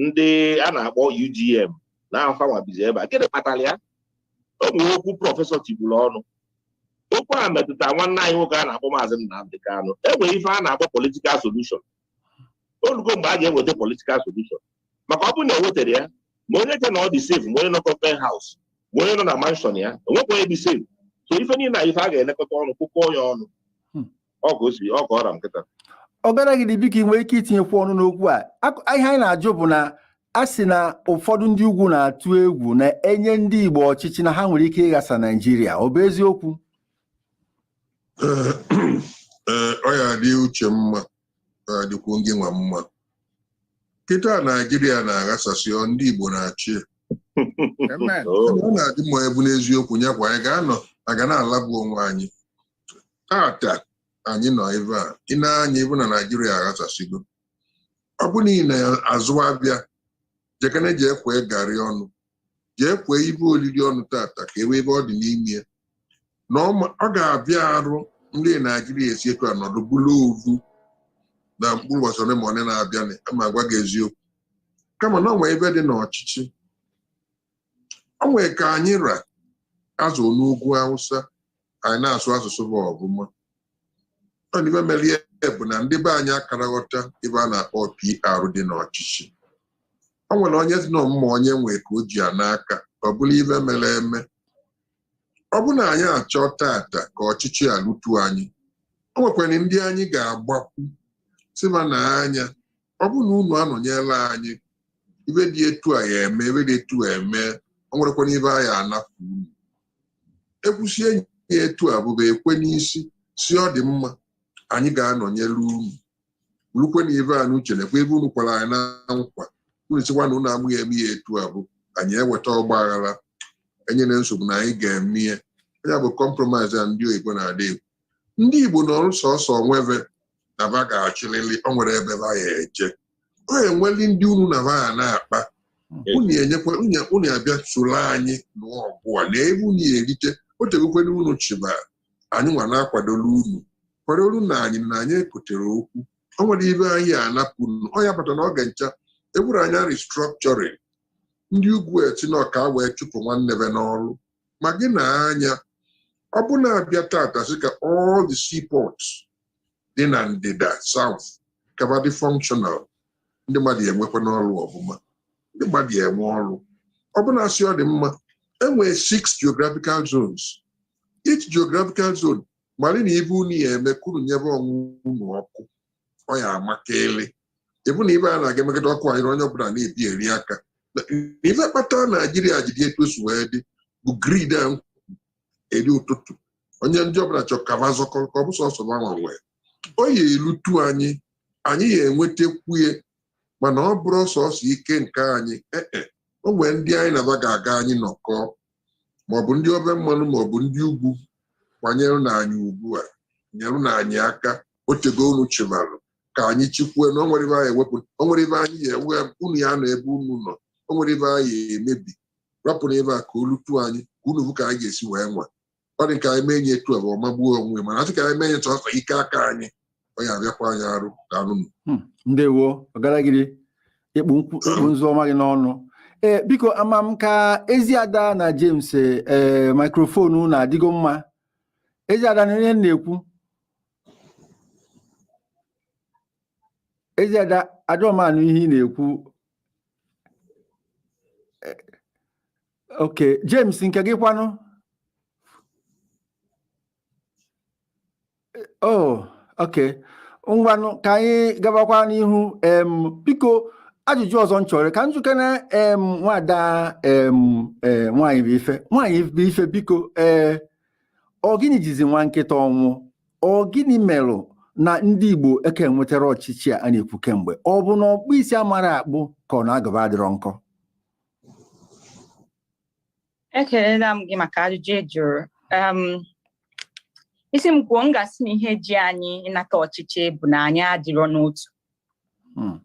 ndị a na-akpọ UGM na fa nwa bizi ebe a gịnị kpatara ya o nwere okwu prọfesọ tiburu ọnụ okwu a metụta nwanne anyị nwoke a na-akpọ maazị Nnamdị Kanụ enwere ife a na-akpọ political solution o lugo mgbe a ga-eweta political solution maka ọ bụrụ na ewetara ya ma onye che na ọ dị safe ma onye nọ government house ma onye nọ na mansion ya enwekwa onye dị safe so ife niile ife a ga-elekọta ọnụ kpụkọ ya ọnụ hmm. ọ ka o si ọ ka ọ ra m kịta ọ gara gị dị biko ị nwere ike itinyekwu ọnụ n'okwu a ihe anyị na-ajụ bụ na a sị na ụfọdụ ndị ugwu na-atụ egwu na e nye ndị Igbo ọchịchị na ha nwere ike ịghasa Naijiria ọ bụ eziokwu Eh, eh, ọ ya-adị Uche mma ọ ya-adịkwu gị nwa mma kịta Naijiria na-aghasasị ọ ndị Igbo na-achị Amen. Oh, ọ na-adị mma ebu n'eziokwu ya kwa anyị ga-anọ a ga na-alabụ onwe anyị tata anyị nọ ebe a ị nee anya ị vụ na Naijiria aghasasịgo ọ bụ na ị na-azụ avịa jekene jee kwee garị ọnụ jee kwee ive olili ọnụ tata ka ebe ebe ọ dị n'ime ya na ọ ga-avịa arụ ndị Naijiria esi etu anọdụ bụrụ ovu na mkpụrụ ụbọchị ole ma ole na-abịa ma gwa gị eziokwu kama na o nwe ive dị n'ọchịchị o nwere ka anyị ra azụ n'ugwu Awụsa anyị na-asụ asụsụ bụ ọbụma ọ na ife mere ya bụ na ndị be anyị akara aghọta ive a na-akpọ PR dị n'ọchịchị o nwere onye dị nọ mma onye nwee ka o ji ya n'aka ọ bụrụ ife mere eme ọ bụ na anyị achọ tata ka ọchịchị a lutu anyị o nwekwara ndị anyị ga-agbakwu sị ba nee anya ọ bụ na unu anọnyela anyị ive dị etu a ya eme ive dị etu a eme o nwerekwara ive anyị anafu unu ekwusie ya etu a bụ ba ekwe n'isi sị ọ dị mma anyị ga-anọnyere unu rukwe na ive a n'oche nekwa ive unu kwere anyị na nkwa unu sịkwa na unu amaghị eme ya etu a bụ anyị eweta ọgba aghara enyere nsogbu na anyị ga-eme ya ya bụ compromise a ndị oyibo na-adị egwu ndị Igbo nọrọ sọsọ onwe ve na va ga-achịlịlị o nwere ebe va ya eje ọ enweli ndị unu na va ya na-akpa unu enyekwa unu- unu abịa soro anyị nụọ ọgụ a na ebe unu erite o tegokwere unu chịba anyị nwa na-akwadola unu kwadoronụ anyị na anyị ekotere okwu o nwere ife anyị anapụ unu ọ ya bata na ọ ga-encha ewuru anyị restructuring ndị ugwu eti na ọka wee chụpụ nwanne va n'ọrụ ma gị na anya ọ bụ na abịa tata sị ka all the seaports dị na ndịda south ka va dị functional ndị mmadụ ya enwekwanụ ọrụ ọ bụ ma ndị mmadụ ya enwe ọrụ ọ bụ na asị ọ dị mma enwee six geographical zones each geographical zone mara na ife unu ya eme ka unu nyebe onwe unu ọkụ ọ ya amakalị ịbụ na ife a na-aga emegide ọkụ anyị na onye ọbụla na-ebi eri aka na ife kpata naijiria ji dị etu o si wee dị bụ greed a m eri ụtụtụ onye ndị ọbụla chọrọ ka va zọkọ ka ọ bụ sọsọ va nwa nwee o ya elutu anyị anyị ya enwetakwu ya mana ọ bụrụ sọsọ ike nke anyị ee e, o nwere ndị anyị na va ga-aga anyị nọkọ maọbụ ndị ofe mmanụ maọbụ ndị ugwu kwanyere na anyị ugbu a nyerenụ anyị aka o tego unu chịbarụ ka anyị chịkwue na o nwere ife anyị ewepụ o nwere ife anyị ya ewe unu ya nọ ebe unu nọ o nwere ife anyị ya emebi rapụnụ ebe a ka o lutu anyị ka unu hụ ka anyị ga-esi wee nwa ọ dị ka anyị mee nye etu a ma ọ magbuo onwe mana asị ka anyị mee nye chọsọ ike aka anyị ọ ya abịakwa anyị arụ ka anụnụ hmm, ndewo ọgaragiri ị kpụ nzu ọ maa gị n'ọnụ ee eh, biko ama m ka ezi ada na James ee eh, mikrofonu unu adịgo mma ezi ada na ihe na-ekwu ezi ada adịrọ m anụ ihe ị na-ekwu eh, ok James nke gị kwanụ eh, oh ok ngwanụ ka anyị gabakwa n'ihu em biko ajụjụ ọzọ m chọrọ ka m jụkene em nwada em eh, nwaanyị bụ ife nwaanyị bụ ife biko ee ọ gịnị jizi nwa nkịta ọnwụ ọ gịnị merụ na ndị Igbo aka enwetarọ ọchịchị a na-ekwu kemgbe ọ bụ na ọkpụ isi amarọ akpụ ka ọ na agụba adịrọ nkọ ekelela m gị maka ajụjụ ị jụrụ ị sị m kwuo m ga-asị na ihe ji anyị ịnata ọchịchị bụ na anyị adịrọ n'otu hmm.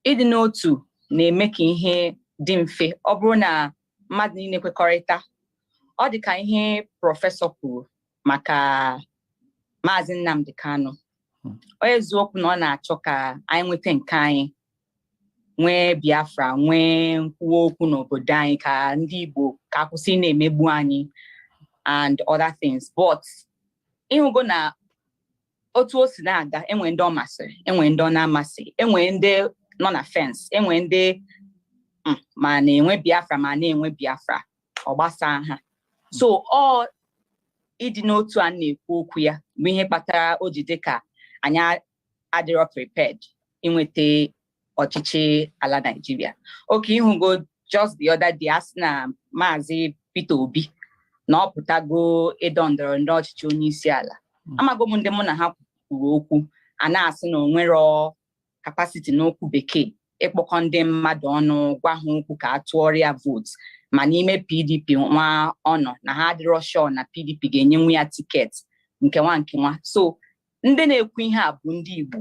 ịdị n'otu na-eme ka ihe dị mfe ọ bụrụ na mmadụ niile kwekọrịta ọ dị ka ihe prọfesọ kwuru maka maazị Nnamdi Kanu hmm. eziokwu na ọ na-achọ ka anyị nweta nke anyị nwee Biafra nwee nkwuwa okwu n'obodo anyị ka ndị Igbo ka a kwụsị ịna-emegbu anyị and other things but ị hụgo na otu o si na-aga enwere ndị ọ masịrị enwere ndị ọ na-amasị enwere ndị nọ na fence enwere ndị mm, ma na-enwe biafra ma na-enwe biafra ọ gbasaa ha so ọ ịdị n'otu a na-ekwu okwu ya bụ ihe kpatara o ji dị ka anyị adịrọ prepared inweta ọchịchị ala Naijiria okay ị hụgo just the other day a sị na maazị Peter Obi na ọ pụtago ịdọ ndọrọ ndọrọ ọchịchị onye isi ala hmm. amago m ndị mụ na ha kwuru okwu a na-asị na o nwere capacity n'okwu bekee ịkpọkọ ndị mmadụ ọnụ gwa ha okwu ka a tụọrọ ya vootu ma n'ime PDP nwa ọ nọ na ha adịrọ sure na PDP ga-enyenwu ya tiketi nke nwa nke nwa so ndị na-ekwu ihe a bụ ndị Igbo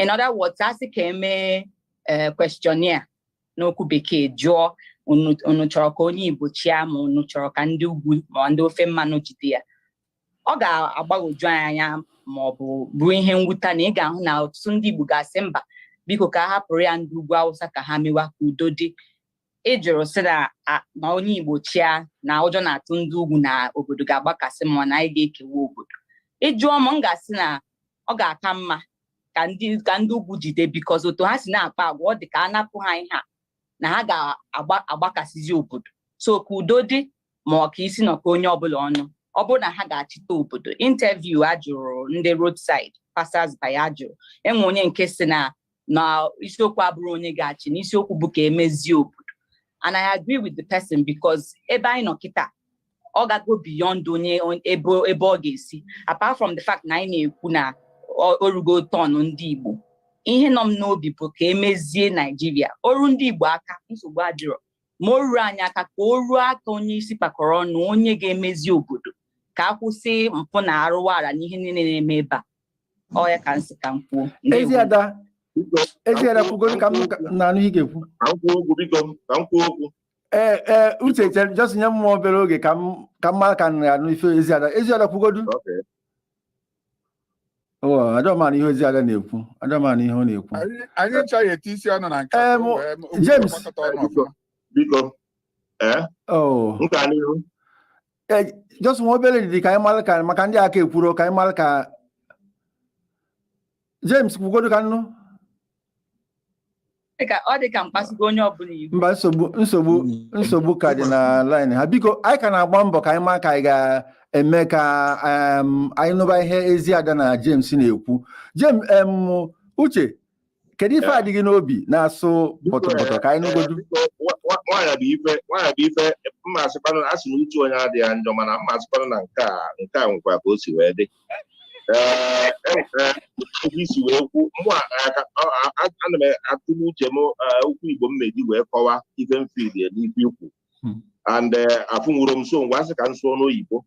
in other words a sị ka e mee eh, questionnaire n'okwu bekee jụọ unu unu chọrọ ka onye igbo chịa ma unu chọrọ ka ndị ugwu ma ndị ofe mmanụ jide ya ọ ga-agbagwoju anyị anya ma ọ bụ bụrụ ihe mwute na ị ga-ahụ na ọtụtụ ndị igbo ga-asị mba biko ka a hapụrụ ya ndị ugwu awụsa ka ha mewa ka udo dị ị jụrụ sị na a- ma onye Igbo chịa na ụjọ na-atụ ndị ugwu na obodo ga-agbakasị ma na anyị ga-ekewa obodo ị jụọ m m ga-asị na ọ ga-aka mma ka ndị ka ndị ugwu jide because otu ha si na-akpa agwa ọ dị ka a napụ ha ihe a na ha ga-agbakasịzi obodo so ka udo dị ma ọ ka isi nọ ka onye ọbụla ọnụ ọ bụrọ na ha ga-achịta obodo interview a jụrụ ndị roadside passers by a jụrụ enwe onye nke sị na na isiokwu abụrọ onye ga-achị na isiokwu bụ ka emezie obodo and I agree with the person because ebe anyị nọ kịta ọ gago beyond onye ebe ebe ọ ga-esi apart from the fact na anyị na-ekwu na o rugo turn ndị Igbo ihe nọ m n'obi bụ ka emezie Naijiria o ruo ndị Igbo aka nsogbu adịrọ ma o ruo anyị aka ka o ruo aka onye isi kpakọrọ ọnụ onye ga-emezi obodo ka a kwụsị mpụ na arụwara na ihe niile na-eme ebe a ọ ya ka m sị ka m kwuo Eziada Eziada kwugodo ka m na-anụ ị ga-ekwu ee ee uche chere just nye m obere oge ka m ka m mara ka m na-anụ ife Eziada Eziada kwugodu adịrọ m anụ ihe Eziada na-ekwu adịrọ m anụ ihe ọ na-ekwu anyị chọghị eti isi ọnụ na nke James biko ee e, just nwee obere ndidi ka anyị mara ka maka ndị aka ekwurọ ka anyị mara ka James kwugodo ka m nụ ọ dị ka m kpasugo onye ọbụla iwe mba nsogbu nsogbu nsogbu ka dị na line ha biko anyị ka na-agba mbọ ka anyị ma ka anyị ga-eme ka anyị nụba ihe Eziada na James na-ekwu James uche kedu ife a dị gị n'obi na-asụ pọtọpọtọ ka anyị nụgodu nwaanyị bụ ife nwaanyị bụ ife m ma-asịkwanụ a sị na uche onye adịghị ya njọ mana m ma-asịkwanụ na nke a nke a nwekwa ka o si wee dị ee e nwere ebe i si wee kwu mụ ana m atụle uche m okwu igbo m ma-eji wee kọwa ife m feel n'ife i kwu and afụnwuro m so ngwa asị ka m sụọ n'oyibo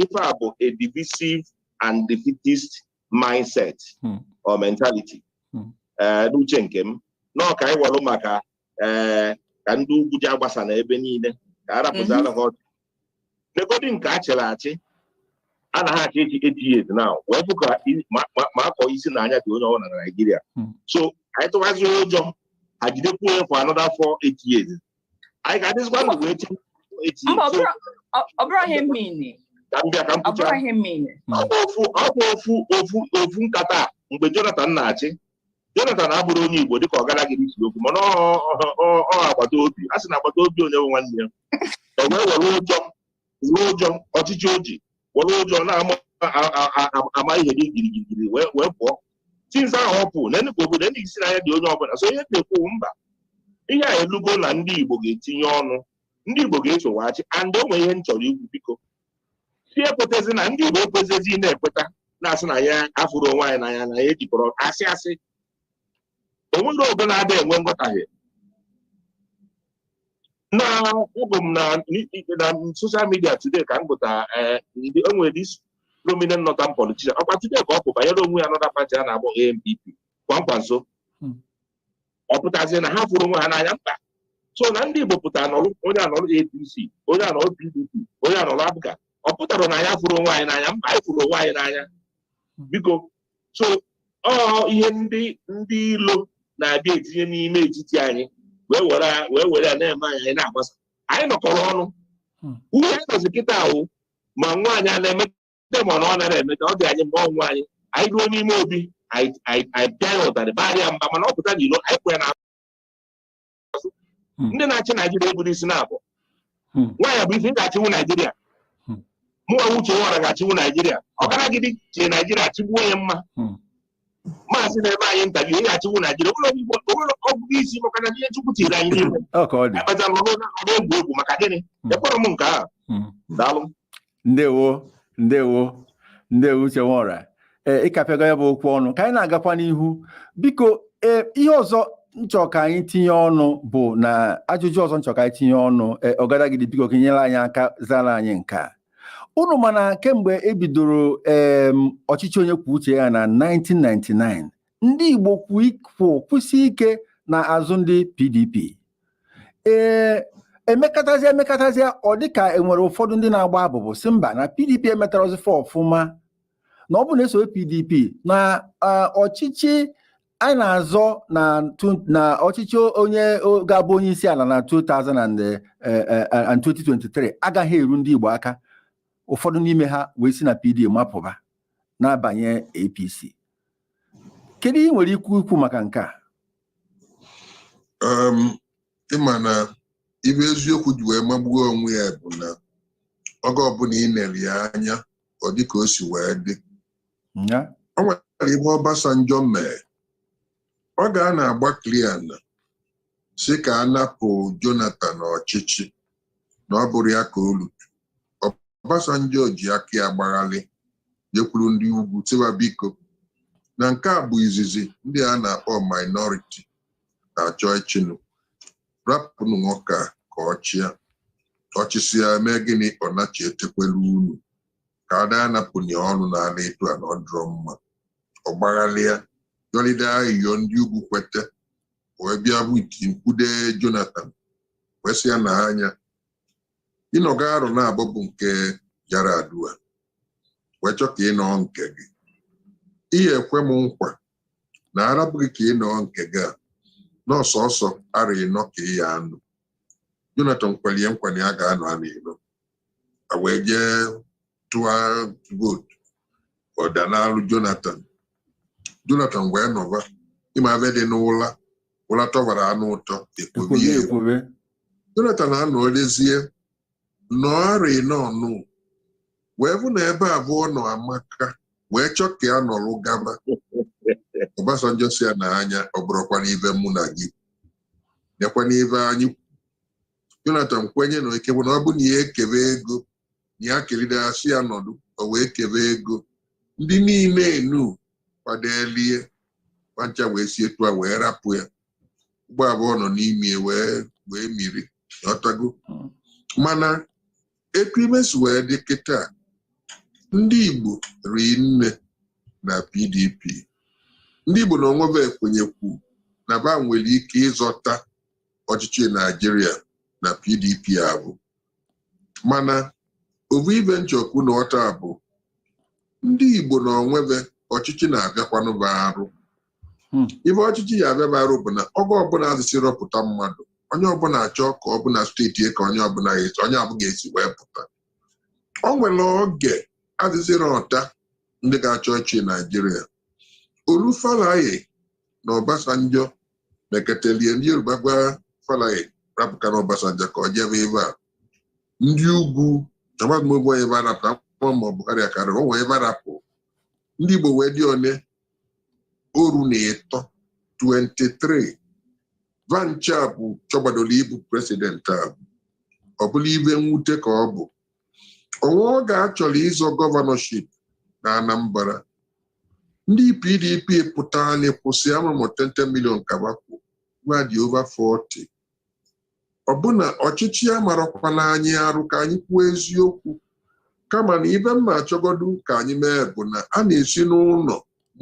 ife a bụ a divisive and defeatist mindset hmm. or mentality hmm. eh, n'uche nke m nọọ ka anyị welụ maka eh, ka ndị ugwu ji agbasa na ebe niile ka a rapụziara ha ọchị negodi nke a chịrị achị a na ha achị achị eight years now wee fụ ka ma akọ isi na anya dị onye ọbụla na Naịjirịa hmm. so anyị tụwazi ụjọ ha jidekwuo ya for another four eight years anyị ga-adịzikwa ndụ wee chee echi mba ọ bụrụ- ọ- ọ bụrụ ihe mmiri ka m bịa ka m ọ bụrụ pụcha ihe mmiri ọ bụ ofu ọ bụ ofu ofu ofu nkata a mgbe Jonathan na-achị Jonathan abụrụ onye Igbo dịka ọgadagidi si ekwu mana ọ- ọ ọ- ọ agbata obi a sị na agbata obi onye bụ nwanne ya e wee were ụjọ were ụjọ ọchịchị o ji were ụjọ na-ama ihe dị girigirigiri wee wee pụọ since ahụ ọ pụ na enugwu obodo ndị isi n'anya dị onye ọbụla so ihe m na-ekwu mba ihe a elugo na ndị igbo ga-etinye ọnụ ndị igbo ga-esowaghachi and o nwere ihe m chọrọ ikwu biko si ekwetezi na ndị igbo ekwesịzi na-ekweta na-asị na anyị afụrọ onwe anyị n'anya na anyị ejikọrọ asị asị o nwere ogo na-ada enwe nghọtahie na agụ m na na social media today ka m gụta eh, ndị o nwere this prominent northern politician ọkwa today ka ọ pụ banyere onwe ya another party a na-akpọ ANPP Kwankwaso Hmm. ọ pụtazie na ha afụrọ onwe ha n'anya mba so na ndị Igbo pụtara nọrụ onye anọrụ APC onye anọrụ PDP onye anọrụ APGA ọ pụtara na anyị afụrọ onwe anyị n'anya mba anyị fụrụ onwe anyị n'anya biko so ọ ihe ndị ndị ilo na-abịa etinye n'ime etiti anyị wee were wee were ya na-eme anyị anyị na-agbasa anyị nọkọrọ ọnụ Hmm. ihe anyị nọzi kịta a wụ ma nwa anyị a na-emete ma na ọ narọ emeta ọ dị anyị mma ọ nwa anyị anyị ruo n'ime obi anyị anyị- anyị pịa ya ụtarị baara ya mba mana ọ pụta n'ilo anyị kwụ ya na azụ hmm. ndị na-achị naijiria eburo isi naabọ hmm. nwaanyị bụ ife ị ga-achịwu naijiria hmm. mụwa uche nwora ga-achịwu naijiria ọgadagidi chịa naijiria chịgbuo ya mma maazị na-eme anyị ntabi ihe achịwu naijiria o nwere ọgụgụ isi maka na ihe chukwu tiri anyị n'ime akpata nọ n'egwu egwu maka gịnị ekpọrọ m nke ahụ daalụ ndewo ndewo ndewo uche nwora ee ị kapịago ya bụ okwu ọnụ ka anyị na-agakwa n'ihu biko ee ihe ọzọ m chọ ka anyị tinye ọnụ bụ na ajụjụ ọzọ m chọ ka anyị tinye ọnụ ee ọgadagidi biko ka i nyere anyị aka zara anyị nke a unu ma na kemgbe e bidoro ee ọchịchị onye kwuo uche ya na 1999 ndị Igbo kwụ kwụsị ike na azụ ndị PDP ee emekatazia emekatazia ọ dịka enwere ụfọdụ ndị na-agba abụbụ sị mba na PDP emetarọzi fa ọfụma na ọ bụ na e sowe PDP na ọchịchị anyị na-azọ na ọchịchị onye ga-abụ onye isi ala na 2023 eh, eh, eh, agaghị eru ndị Igbo aka ụfọdụ n'ime ha wee si na PD mapụba na-abanye APC kedu ihe ị nwere ikwu ikwu maka nke a um, ị ma na ibe eziokwu ji wee magbuo onwe ya bụ na oge ọbụla ị nere ya anya ọ dị ka o si wee dị o nwere ihe Obasanjo mere oge a na-agba kliana sị ka a napụ Jonathan ọchịchị na ọ bụrọ ya ka o lutu Obasanjo ji aka ya gbaghalị jekwuru ndị ugwu tiwa biko na nke a bụ izizi ndị a na-akpọ minority na-achọ ịchịnụ rapụnụ nwoke a ka ọ chịa ọ chịsịa mee gịnị ọ nachi etekwere unu ka a da anapụ onye ọnụ n'ala etu a na ọ dịrọ mma ọ gbaghalịa yọlide ayịyọ ndị ugwu kwete wee bịa bụ iti mkpude Jonathan wee sị ya na anya ị nọgo arọ naabọ bụ nke Yar'Adua wee chọ ka ị nọọ nke gị ị ya-ekwe m nkwa na a rapụ gị ka ị nọọ nke gị a na ọ sọsọ arọ ịnọ ka ị ya-anọ Jonathan kwere ya nkwa na ya ga-anọ arọ ịnọ a wee jee tụọ vootu ọ danalụ Jonathan Jonathan wee nọba ị ma ibe dị n'ụla ụla tọbaranụ ụtọ e kwobe ya ekwobe Jonathan anọlezie nọọ arọ ịnọ nụ wee bụ na ebe abụ ọ nọ amaka wee chọ ka ya nọrụ gaba Obasanjo sị ya na anya ọ bụrọkwanụ ibe mụ na gị nekwanụ ibe anyị Jonathan kwenye na ike bụ na ọ bụ na ya ekebe ego na ya kelide a sị ya nọdụ o wee kebe ego ndị niile enu kwadelie kwancha wee si etu a wee rapụ ya ụgbọ abụ ọ nọ n'ime ya wee wee miri ọtago Mm. mana etu ibe si wee dị kịta ndị Igbo ri nne na PDP ndị Igbo na onwe ba ekwenyekwu na ba nwere ike ịzọta ọchịchị naijiria na pdp avụ mana ovu ive m chọkwu na ọta bụ ndị igbo na onwe va ọchịchị na-abịakwanụ va arụ Hmm. ive ọchịchị ya abịa va arụ bụ na oge ọbụla azị sị rọpụta mmadụ onye ọbụla achọ ka ọ bụ na steeti ya ka onye avụ ga-esi wee pụta o nwere oge azị sị rọta ndị ga-achọ ọchịchị naijiria olu falae na obasanjo meketelie ndị yoruba gwa falae rapụkana obasanjo ka ọ jebe ebe a ndị ugwu chọmadụ m ogbe va rapụ ma buhari akarị onwe va rapụ ndị igbo wee dị one oru na ịtọ 23 va ncha bụ chọgbadoro ịbụ president a ọ bụrụ ive mwute ka ọ bụ o nwe oge a chọrọ ịzọ gọvanọship na Anambra ndị PDP pụtaranụ kwụsị amamụ 10 million kabakwu va dị over 40 ọbụna ọchịchị ya marakwana anyị arụ ka anyị kwuo eziokwu kama na ive m na-achọgodu ka anyị mee bụ na a na-esi n'ụlọ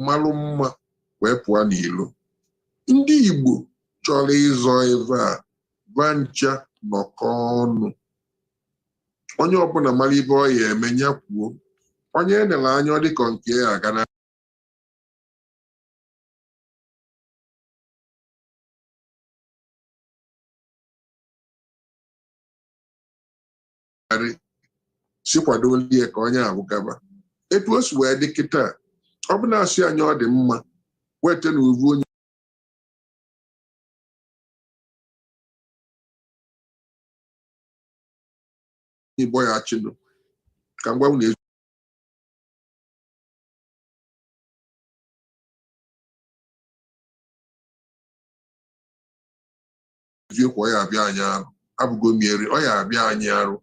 malụ mma wee pụọ n'ilo ndị Igbo chọrọ ịzọ ebe a va ncha nọkọ ọnụ onye ọbụla mara ive ọ ya eme ya kwuo onye e nere anya ọ dịka nke ya aga na arị sị kwadolu ya ka onye ahụ gaba etu o si wee dị kịta ọ bụ na-asị anyị ọ dị mma weta na ovu onye igbo ya achịnụ ka m gwa unu eziokwu ọ ya abịa anyị arụ avụgo m eri ọ ya abịa anyị arụ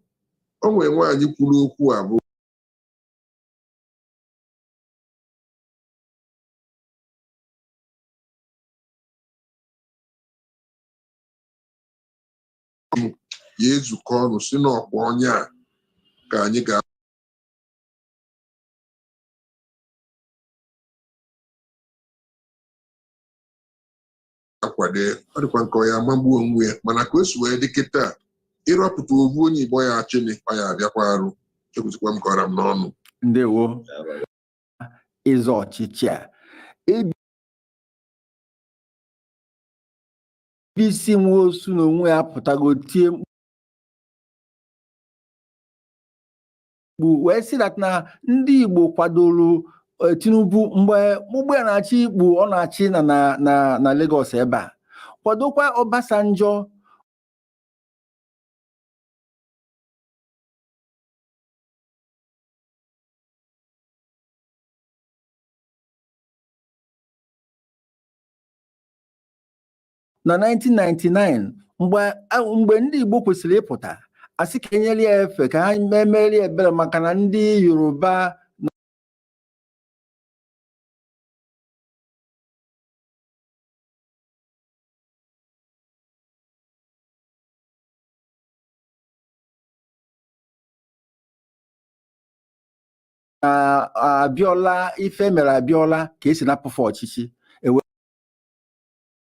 o nwere nwaanyị kwuru okwu avụ ya ezukọ ọnụ sị na ọ kwa onye a ka anyị ga akwado ọ dịkwanụ ka ọ ya amagbu onwe ya mana ka o si wee dị kịta ịrọpụta ovu onye igbo ya achịnị ọ ya abịakwa arụ ekwusikwa m ka ọ ra m n'ọnụ ndewo ịzọ ọchịchị a BC Nwosu na onwe ya pụtago tie mkpu wee sị dat na ndị Igbo kwadoro eh, Tinubu mgbe ụgbọ ya na-achị ikpu ọ na-achị na na na na Lagos ebe a kwadokwa Obasanjo na 1999 mgbe ndị Igbo kwesịrị ịpụta asị ka enyere ya efe ka e meere ebere maka na ndị Yoruba Abiola ife e mere Abiola ka e si napụ fa ọchịchị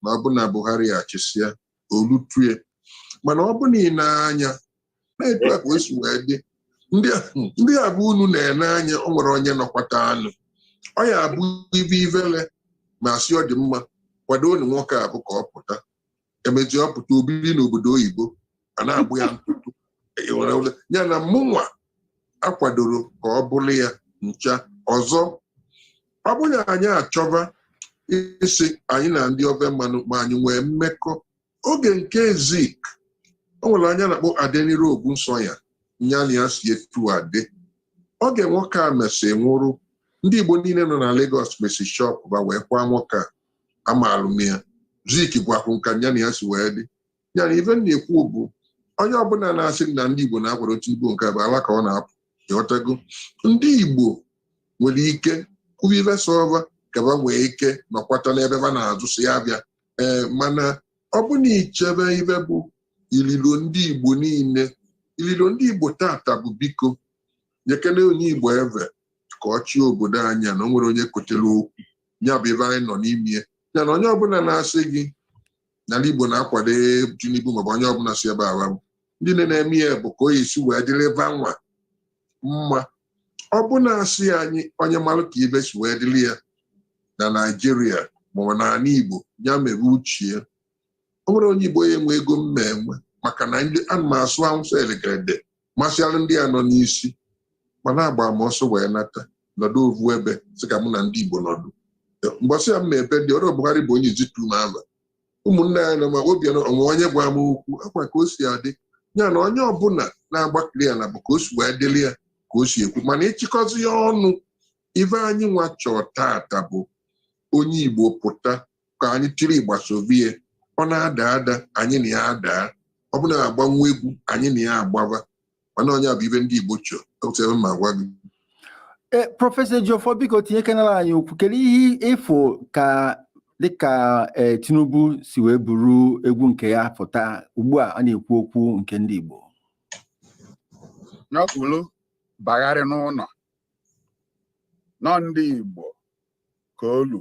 na ọ bụ na Buhari achịsịa o lutue mana ọ bụ na ị na-anya na etu a ka o si wee dị ndị a bụ unu na-ene anya o nwere onye nọkwata anụ ọ ya abụ ive ivele ma asị ọ dị mma kwado unu nwoke a bụ ka ọ pụta emezi ọ pụta o biri n'obodo oyibo a na-agba ya ntụtụ ịghọrọ ụlọ ya na mụnwa akwadoro ka ọ bụrụ ya ncha ọzọ ọ bụrụ na anyị achọba isi anyị na ndị ofe mmanụ ma anyị nwee mmekọ oge nke Zik o nwere onye a na-akpọ Adeniran Ogunsanya nya na ya si etu a dị oge nwoke a mesị nwụrụ ndị Igbo niile nọ na Lagos mesi shop ba wee kwa nwoke a amaalụ m ya Zik gwakwu nka nya na ya si wee dị ya na ife m na-ekwu bụ onye ọbụla na-asị na ndị Igbo na-akwado Tinubu nke bụ ala ka ọ na-apụ ịghọtago ndị Igbo nwere ike kwuba ife sọ va ka ba nwee ike nọkwata n'ebe ba na-azụ si ya bịa ee mana ọ bụ na i chebe ife bụ ililo ndị Igbo niile ililo ndị Igbo tata bụ biko nyekene onye Igbo eve ka ọ chịa obodo anyị a na o nwere onye kotere okwu ya bụ ife anyị nọ n'ime ya na onye ọbụla na-asị gị n'ala Igbo na-akwado Tinubu maọbụ onye ọbụla si ebe awa ndị nne na-eme ya bụ ka o esi wee dịrị va nwa mma ọ bụ na-asị anyị onye mara ka ive si wee dịrị ya na Naịjirịa maọbụ n'ala Igbo ya mere uchie o nwere onye Igbo ya enwe ego mma enwe maka na ndị ana m asụ Awụsa elegede masịalụ ndị a nọ n'isi ma na-agba m ọsọ wee nata nọdụ ovu ebe sị ka mụ na ndị Igbo nọdụ mbọsị ya m na-ebe ndị ọrụ Buhari bụ onye izitu m ama ụmụnne ya na ma obi onwe onye gwa m okwu akwa ka o si adị ya na onye ọbụla na-agbakiri ya na bụ ka o si wee dịrị ya ka o si ekwu mana ịchịkọzi ya ọnụ ife anyị nwa chọọ tata bụ onye Igbo pụta ka anyị tiri ịgba sovie ọ na-ada ada anyị na ya adaa ọ bụ na agbanwe egwu anyị na ya agbaba mana onye fụ ife ndị Igbo chọọ otu m agwa gị eh, prọfesọ Ejiofor biko tinyekenara anyị okwu kedu ihe ị fụ ka dịka eh, Tinubu si wee buru egwu nke ya pụta ugbu a a na-ekwu okwu nke ndị Igbo n'okpuru bagharị n'ụlọ nọ ndị Igbo ka olu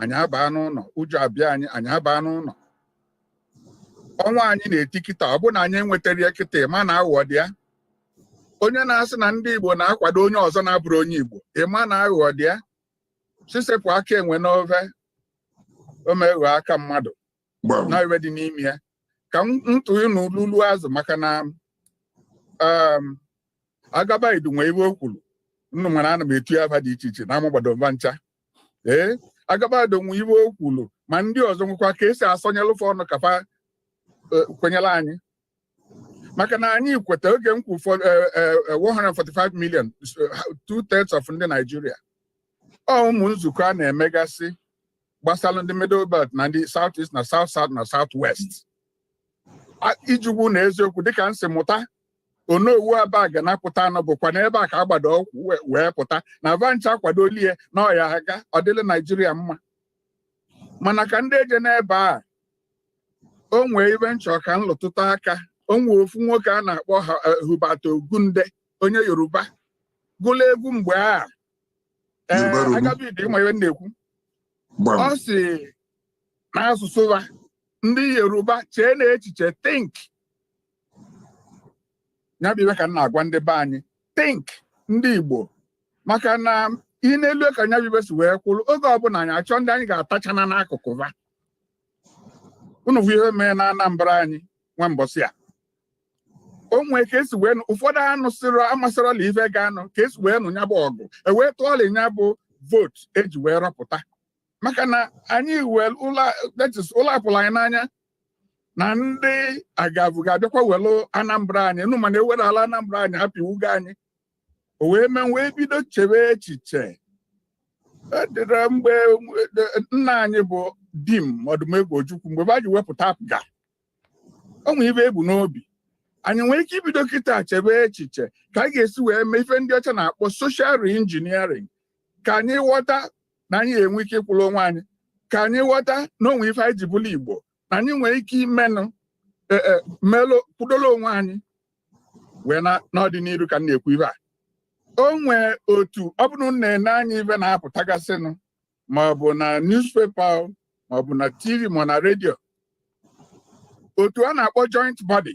anyị abaa n'ụlọ ụjọ abịa anyị anyị abaa n'ụlọ ọnwa anyị na-eti kịta ọ bụ na anyị enwetara ya kịta ị ma na aghụghọ dị ya onye na-asị na ndị Igbo na-akwado onye ọzọ na-abụrọ onye Igbo ị ma na aghụghọ dị ya sị sepụ aka enwe n'ove o meghọ aka mmadụ na ihe dị n'ime ya ka m ntụ ịnụ lulu azụ maka na um, agaba idu nwe ihe o kwuru nnụ mara ana m etu ya afa dị iche iche na amagbado m va ncha ee agaba idu nwe ihe o kwuru ma ndị ọzọ nwekwa ka esi asọnyelụ fa ọnụ ka fa e, kwenyere anyị maka na anyị kweta oge m kwu 145 million two thirds of ndị Naijiria ọ ụmụ nzukọ a na-emegasị gbasara ndị middle belt na ndị south east na south south na south west ijugwu na eziokwu dịka m si mụta Onowu Abagana pụta na ọ bụkwa n'ebe a ka a gbado ụkwụ wee pụta na va ncha akwadolie ya na ọ ya-aga ọ dịla naijiria mma mana ka m dị eje n'ebe a o nwee ife m chọ ka m lụtụta aka o nwee ofu nwoke a na-akpọ eh, Hubert Ogunde onye Yoruba gụla egwu mgbe a ee Yoruba Ronu. Agaba Idu ị ma ife m na-ekwu gbam ọ sị n'asụsụ ha ndị yoruba chee na echiche think ya bụ ife ka m na-agwa ndị be anyị think ndị igbo maka na ị na-ele ka nya bụ ife si wee kwụrụ oge ọbụla anyị achọ ndị anyị ga-attach n'akụkụ ha unu fụ ihe mee na Anambra anyị nwa mbọsị a o nwee ka esi wee ụfọdụ anụ sịrọ amasịrọla ife ga nụ ka esi wee nụ ya bụ ọgụ ewee tụọla ya bụ vote eji wee rọpụta maka na anyị wee ụla apụla anyị n'anya na ndị agavụ ga-abịakwa welu Anambra anyị nụ mana ewerala Anambra anyị apịwugo anyị o wee mee m wee bido chewe echiche e dịrị mgbe e, nna anyị bụ Dim Odumegwu Ojukwu mgbe va ji wepụta APGA o nwere ife e bu n'obi anyị nwere ike ibido kịta chebe echiche ka anyị ga-esi wee mee ife ndị ọcha na-akpọ social reengineering ka anyị ghọta na anyị ya-enwe ike ịkwụrụ onwe anyị ka anyị ghọta na o nwe ife anyị ji bụrụ igbo na anyị nwere ike imenụ e, e, melụ kwudola onwe anyị wee n'ọdịnihu ka m na-ekwu ive a o nwee otu ọ bụrụ na i nee anya ive na-apụtagasịnụ ma ọ bụ na newspaper ma ọ bụ na tv ma na redio otu a na-akpọ joint body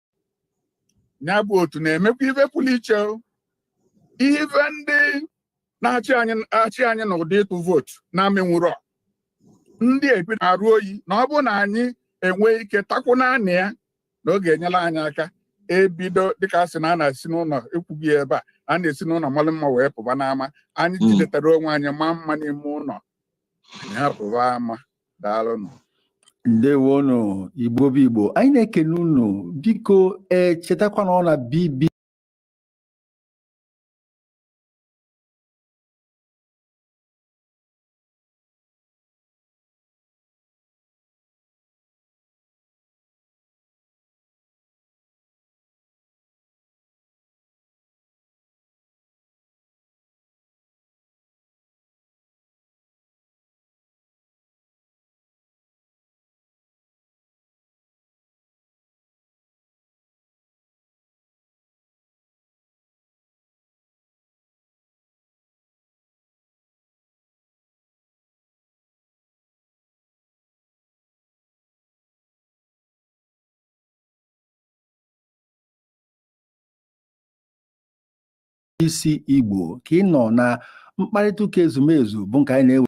ya bụ otu na-emekwa ife pụrụ iche ife ndị na-achị anyị n'ụdị ịtụ vootu na-emenwurọ ndị ebi na-arụ oyi na ọ bụrụ na anyị enwe ike takwụ naanị ya na ọ ga-enyere anyị aka ebido dịka a sị na a na-esi n'ụlọ ekwugo ya ebe a na a na-esi n'ụnọ malụ mma wee pụba n'ama anyị jidetara onwe anyị maa mma n'ime ụlọ anyị apụba ama daalụnụ ndewonụ igbo bụ igbo anyị na-ekene unu biko ee chetakwa na ọ na bb C Igbo ka ị nọ na mkparịta ụka ezumezu bụ nke anyị na-ewe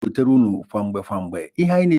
butere unu kwa mgbe kwa mgbe ihe anyị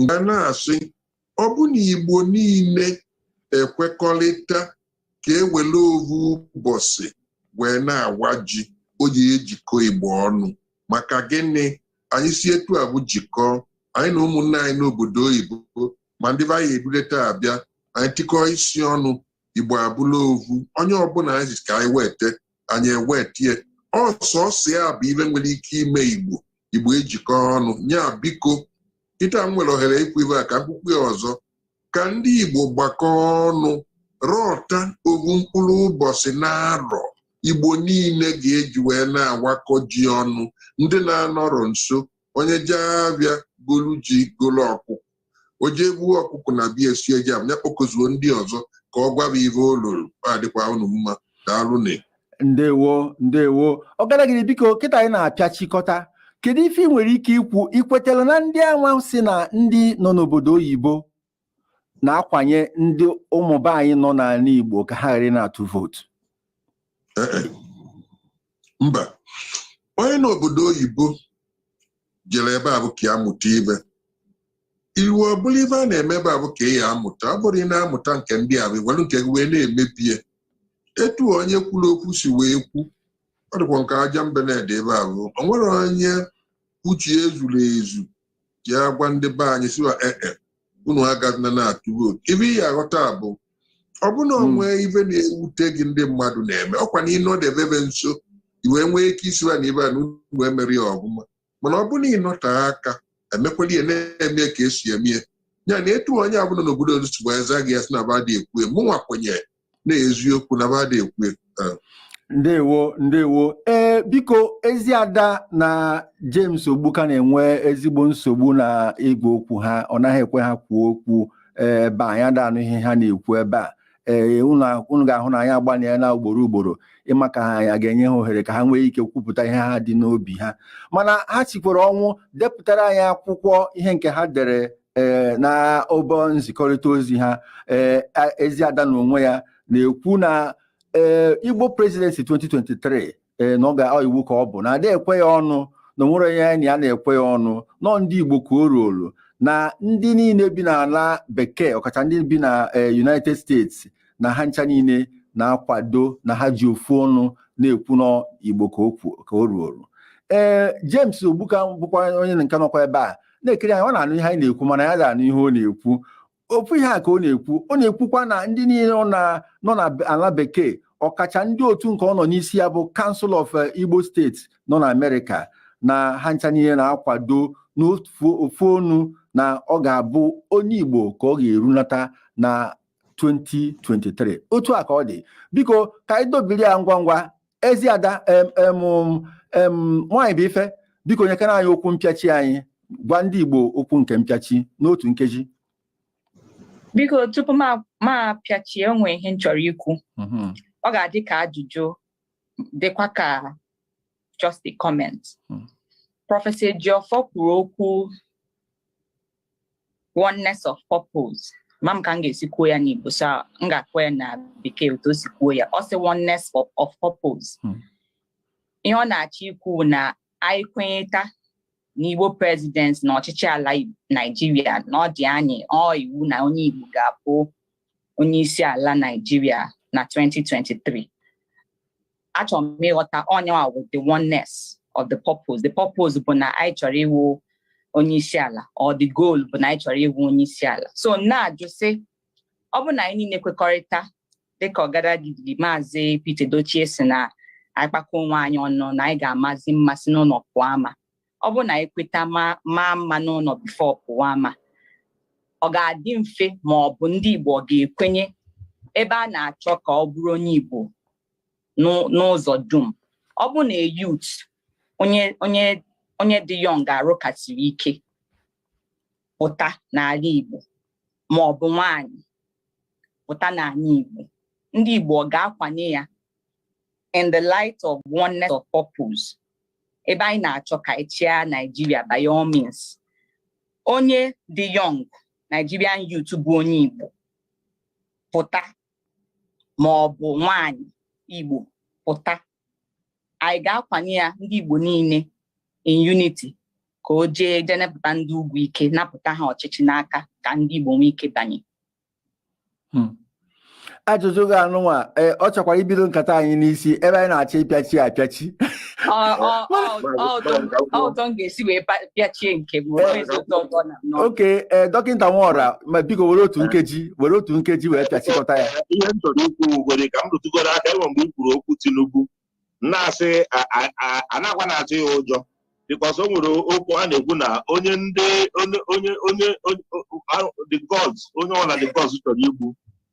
nga na-asị ọ bụ na Igbo niile ekwekọlịta ka e wele ovu ụbọsị wee na-awa ji ọ ya-ejikọ Igbo ọnụ maka gịnị anyị si etu avụ jikọọ anyị na ụmụnne anyị n'obodo oyibo ma ndị be anyị eduleta abịa anyị tikọọ isi ọnụ Igbo abụla ovu onye ọbụla anyị sị ka anyị weta anyị ewetie ọsọsọ ya bụ ive nwere ike ime igbo igbo ejikọ ọnụ nya biko kịta m nwere ohere ikwu ive a ka m kwukwaa ya ọzọ ka ndị igbo gbakọọ ọnụ rọta ovu mkpụrụ ụbọchị n'arọ igbo niile ga-eji wee na-awakọ ji ọnụ ndị na-anọrọ nso onye jee avịa golu ji golu ọkụkọ o jee gbuo ọkụkọ na bịa sie ji nya kpọkọzuo ndị ọzọ ka ọ gwa va ive o loro adịkwa unu mma daalụnụ ndewo ndewo Ọgadagidi biko kịta anyị na-apịachikọta kedu ife ị nwere ike ikwu i kwetara na ndị anwa sị na ndị nọ n'obodo oyibo na-akwanye ndị ụmụ be anyị nọ n'ala Igbo ka ha ghara na-atụ vootu eh, eh. mba onye n'obodo oyibo jere ebe avụ ka ya mụta ive i rue ọ bụrụ ive a na-eme ebe avụ ka ị ya-amụta ọ bụrụ ị na-amụta nke ndị avụ i welu nke gị wee na-emebie etu onye kwuru okwu si wee kwu ọ dịkwa nke aja mbe na-ede ebe avụ o nwere onye uche ya zuru ezu ji agwa ndị be anyị sị va ee unu agazina na-atụ vootu ive ị ya-aghọta bụ ọ bụ na o nwee hmm. ive na-ewute gị ndị mmadụ na-eme ọkwa na ị nọdebe ebe nso i wee nwee ike ịsị va na ive a na unu emerọ ya ọvụma mana ọ bụ na ị nọte aka emekwala ya na-eme ka e si eme ya na etu onye avụ nọ n'obodo olu si wee zaa gị ya sị na va adị ekwu mụnwa kwenye n'eziokwu na va adị ekwu ekwu taa ndewo ndewo ee biko Eziada na James Ogbuka na-enwe ezigbo nsogbu na igwe okwu ha ọ naghị ekwe ha kwuo okwu ebe anyị ada anụ ihe ha na-ekwu ebe a ee unu ga-ahụ na anyị agbalịana ugboro ugboro ịma ka anyị ga-enye ha ohere ka ha nwee ike kwupụta ihe ha dị n'obi ha mana ha sikwara ọnwụ depụtara anyị akwụkwọ ihe nke ha dere ee eh, na ọba nzikọrịta ozi ha ee eh, Eziada na onwe ya na-ekwu na ee eh, Igbo presidency 2023 ee na ọ ga iwu ka ọ bụ na ada ekwe ya ọnụ na o nwerọ onye anyị na ya na-ekwe ya ọnụ na ọ ndị Igbo ka o ruolu na ndị niile bi n'ala bekee ọkacha ndị bi na United States na ha ncha niile na-akwado na ha ji ofu ọnụ na-ekwu n'Igbo ka o ruolu ee James Ogbuka bụkwa onye nke nọkwa ebe a na-ekiri anyị ọ na-anụ ihe anyị na-ekwu mana anyị ada anụ ihe ọ na-ekwu ofu ihe a ka ọ na-ekwu ọ na-ekwukwa na ndị niile nọ na ala bekee ọkacha ndị otu nke ọ nọ n'isi ya bụ Council of eh, Igbo States nọ na Amerịka na ha ncha niile na-akwado n'ofu ọnụ na ọ ga-abụ onye Igbo ka ọ ga-erunata na 2023 otu a ka ọ dị biko ka anyị dobiri ya ngwa ngwa ezi ada nwaanyị bụ ife biko nyekene anyị okwu mpịachi anyị gwa ndị Igbo okwu nke mpịachi n'otu nkeji biko tupu m apịachie o nwe ihe m chọrọ ikwu mm-hmm. ọ ga-adị ka ajụjụ dịkwa ka just a comment hmm. prọfesọ Ejiofor kwuru okwu oneness of purpose ma m ka m ga-esi kwuo ya n'Igbo so m ga-akpọ ya na bekee otu o si kwuo ya ọ sị oneness of purpose hmm. ihe ọ na-achọ ikwu na anyị kwenyeta na Igbo presidency na ọchịchị ala Naijiria na ọ dị anyị ọ iwu na onye Igbo ga-abụ onye isi ala Naijiria na 2023 achọrọ m ịghọta ọ ya nwa wụ the oneness of the purpose the purpose bụ na anyị chọrọ ịwụ onye isi ala or the goal bụ na anyị chọrọ ịwụ onye isi ala so na-ajụ sị ọ bụ na anyị niile kwekọrịta dịka ọgadagidi maazị Pete Edochie sị na anyị kpakọ onwe anyị ọnụ na anyị ga-amazi mma si n'ụlọ pụọ ama ọ bụ na anyị kweta maa mma n'ụlọ before pụwa ama ọ ga-adị mfe ma ọ bụ ndị Igbo ọ ga-ekwenye ebe a na-achọ ka ọ bụrụ onye Igbo n'ụzọ dum ọ bụ na a youth onye onye onye dị young arụ ka siri ike pụta n'ala Igbo ma ọ bụ nwaanyị pụta n'ala Igbo ndị Igbo ọ ga-akwanye ya in the light of oneness of purpose ebe anyị na-achọ ka anyị chịa Naijiria by all means onye dị young Nigerian youth bụ onye Igbo pụta ma ọ bụ nwaanyị Igbo pụta anyị ga-akwanye ya ndị Igbo niile in unity ka o jee jee napụta ndị ugwu ike napụta ha ọchịchị n'aka ka ndị Igbo nwee ike banye hmm. ajụjụ gị a nụnwa eh, ọ chọkwara ibido nkata anyị n'isi ebe anyị na-achọ ịpịachi apịachi ọ otu m ga-esi wee pịachie nke m okay eh, dọkịta Nwaọra ma biko were otu nkeji were otu nkeji wee pịachikọta ya ihe m chọrọ ikwu nwere ka m rụtụgoro aka e nwe mgbe i kwuru okwu Tinubu na-asị anakwana atụ ya ụjọ because o nwere okwu a na-ekwu na onye ndị onye onye onye the gods onye ọ bụla the gods chọrọ igbu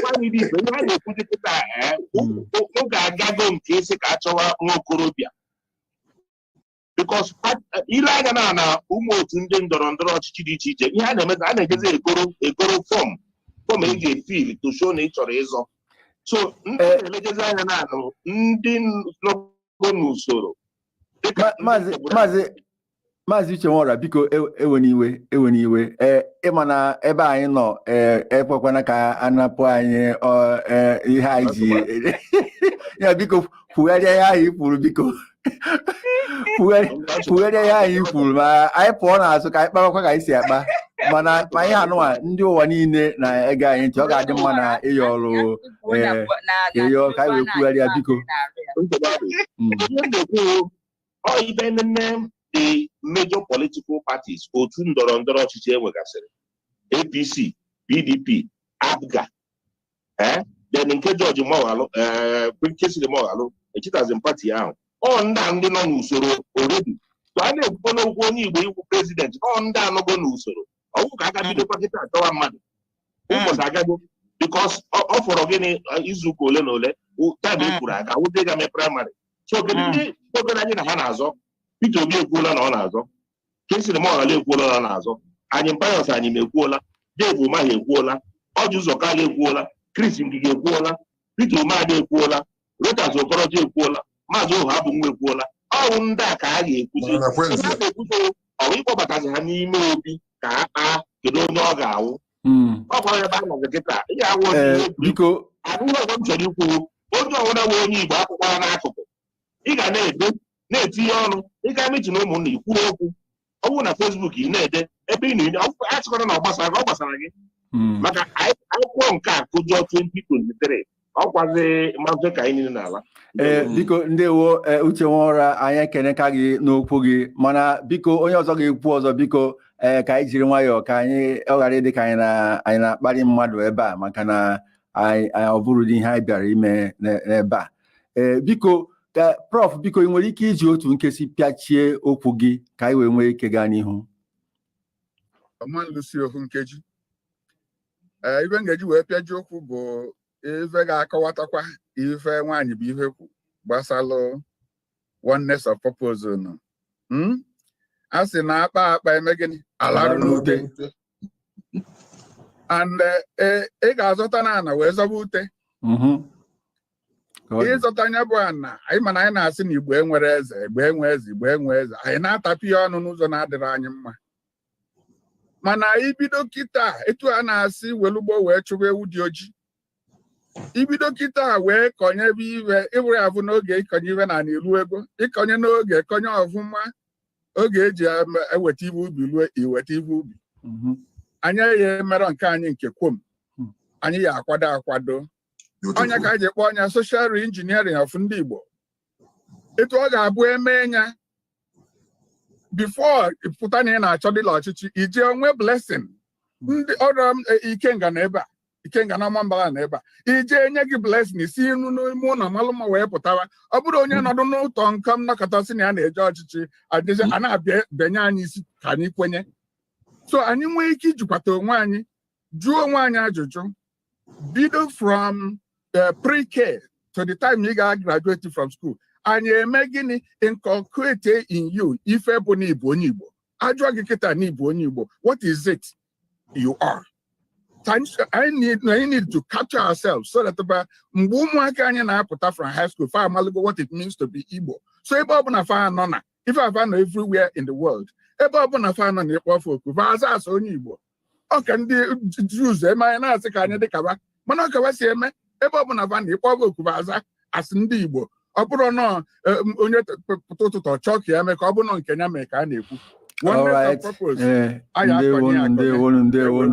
nwaanyị bụ ife ihe a na-ekwuzi kịta eh, Mm. o- oge agago nke isi ka a chọwa nwa okorobịa because i lee anya na na ụmụ otu ndị ndọrọ ndọrọ ọchịchị dị iche iche ihe a na-eme a na-ejezi egoro egoro form form e ga-efill to show na ị chọrọ ịzọ so ndị Eh. na-elegezi anya na ndị nọgo n'usoro dịka Ma- ndị maazị Igbo na- maazị maazị uche nwora biko ewena iwe ewena iwe ee ịma na ebe anyị nọ ee ekwekwana ka anapụ anyị ihe anyị ji ya biko kwugharịa ihe ahụ i kwuru biko kwugharịa ihe ahụ i kwuru ma anyị pụọ n'azụ ka anyị kpawakwa ka anyị si akpa mana ma ihe anụwa ndị ụwa niile na-ege anyị ntị ọ ga-adị mma na ị yọrọ ayịyọ ka anyị wee kwugharịa biko ọ ibe nene the major political parties otu ndọrọ ndọrọ ọchịchị enwegasịrị APC PDP APGA eh? then nke George Moghalu eh, Kingsley Moghalu echetazi m party ahụ ọ ndị a ndị nọ n'usoro already so a na-ekwukwe n'okwu onye Igbo ịwụ president ọ ndị anọgo n'usoro ọwụ ka a ga-ebidokwa kịta achọwa mmadụ ụbọchị agago because ọ fọrọ gịnị izuụka ole na ole time e kwuru aga wụdị ga mee primary so kedu ndị gwagoro anyị na ha na-azọ Peter Obi ekwuola na ọ na-azọ Kingsley Moghalu ekwuola na ọ na-azọ Anyim Pius Anyim ekwuola Dave Umahi ekwuola Orji Uzor Kalu ekwuola Chris Ngige ekwuola Peter Umeadi ekwuola Rochas Okorocha ekwuola Maazị Ohuabunwa ekwuola ọwụ ndị a ka a ga-ekwuzi Mana Kwenze, na-ekwuzi ọwụ ịkpọbatazi ha n'ime obi ka a kpaa kedu onye ọ ga-awụ hmm. ọkwa ebe a nọzi kịta ihe awụ biko abụghị ọgwa m chọrọ ikwu onye ọwụna wụ onye igbo akwụkwana n'akụkụ ị ga na-ede na-etinye ọnụ ị gaa meeting ụmụnna ikwu okwu ọ bụrụ na Facebook ị na-ede ebe ị na-enye achịkọta na ọ gbasara gị ọ gbasara gị hmm. maka a kụkwa nke a kụjọọ 2023 ọkwazi mazụ ka anyị niile n'ala ee eh, biko ndewo eh, uche nwora anyị ekeneka gị n'okwu gị mana biko onye ọzọ ga-ekwu ọzọ biko ee eh, ka anyị jiri nwayọọ ka anyị ọ ghara ịdị ka anyị na-akparị mmadụ ebe a maka na anyị ọ bụrọdị ihe anyị bịara ime n'ebe a ee biko ka prof biko ị nwere ike iji otu nkeji pịachie okwu gị ka anyị wee nwee ike gaa n'ihu ee ife m ga-eji wee pịaji okwu bụ ife ga-akọwatakwa ife nwaanyị bụ ihe kwu gbasalụ oneness of purpose nọ Hmm? a sị na a kpaa akpa e mee gịnị a larụ n'ute and eh, eh, ị ga-azọta na ana wee zọba ute Mhm. Ka ọ dị. ịzọta nya bụ ana anyị mana anyị na-asị na igbo enwerọ eze igbo enwe eze igbo enwe eze anyị na-atapị ya ọnụ n'ụzọ na-adịrọ anyị mma mana ibido kịta etu a na-asị welụ gboo wee chụba ewu dị oji ibido kịta wee kọnye ife ịbụrụ ya bụ n'oge ịkọnye ife na ilu ego ịkọnye n'oge kọnye ọfụma oge eji eweta ife ubi lue iweta ife ubi mhm. anyị ya emerọ nke anyị nke kwom hmm. anyị ya akwado akwado ọ nya ka anyị ji kpọọ nya social re-engineering of ndị Igbo etu ọ ga-abụ eme ya before pụta na ị na-achọ dịla ọchịchị ị je enwe blessing ndị ọrụ e, Ikenga nọ ebe a Ikenga na Ọmambala nọ ebe a e je enye gị blessing si inu n'ime ụlọ malụ mma wee pụtawa ọ bụrụ onye hmm. nọdụ n'ụtọ nke m nọkata sị na ya na-eje ọchịchị adịzi a na-abịanye anyị isi ka anyị kwenye so anyị nwee ike ijikwata onwe anyị jụọ onwe anyị ajụjụ bido from the eh, pre-K to the time ị ga-a graduate from school anyị eme gịnị inculcate in you ife bụ na ịbụ onye Igbo ajụọ gị kịta na ịbụ onye Igbo what is it you are anyị need to capture ourselves so that by mgbe ụmụaka anyị na-apụta from high school fa amaligo what it means to be Igbo so ebe ọ bụla fa nọ na ife a fa nọ everywhere in the world ebe ọ bụla fa nọ na ị kpọọ fa oku fa aza as onye Igbo ọ ka ndị Jews eme anyị na-asị ka anyị dịka wa mana ọ ka wa si eme ebe ọ bụla fa nọ ị kpọọ fa oku fa aza as ndị Igbo ọ bụrụ na onye pụta ụtụtụ ọ chọọ ka ya mee ka ọ bụrụ na ọ nke ya mee ka a na-ekwu Alright. Eh, ndewo ndewo ndewo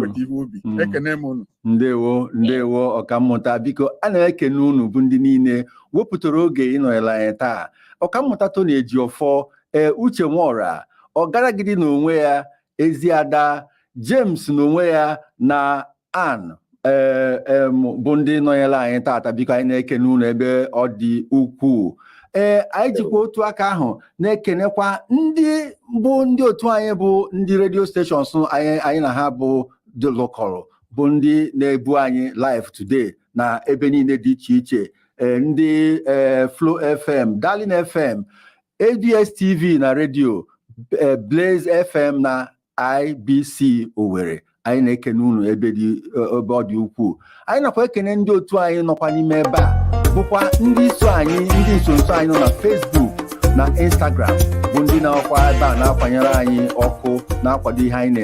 mm. ekene m unu ndewo ndewo ọkammụta biko a na-ekene unu bụ ndị niile wepụtara oge ịnọnyere anyị taa ọkammụta Tony Ejiofor ee Uche Nwaọra ọgaragidi na onwe ya Eziada James na onwe ya na Ann ee em, bụ ndị nọnyere anyị taata biko anyị na-ekene unu ebe ọ dị ukwuu ee anyị jikwa otu aka ahụ na-ekenekwa ndị bụ ndị otu anyị bụ ndị redio stations anyị anyị na ha bụ ndị lụkọrọ bụ ndị na-ebu anyị live today na ebe niile dị iche iche e, ndị e, Flo FM Darling FM ABS TV na redio e, Blaze FM na IBC Owerri anyị na-ekene unu ebe ọ dị ukwuu anyị nakwa ekene ndị otu anyị nọkwa n'ime ebe a bụkwa ndị iso anyị ndị nsonso anyị nọ na Facebook na Instagram bụ ndị nọkwa ebe a na-akwanyere anyị ọkụ na-akwado ihe anyị na-eme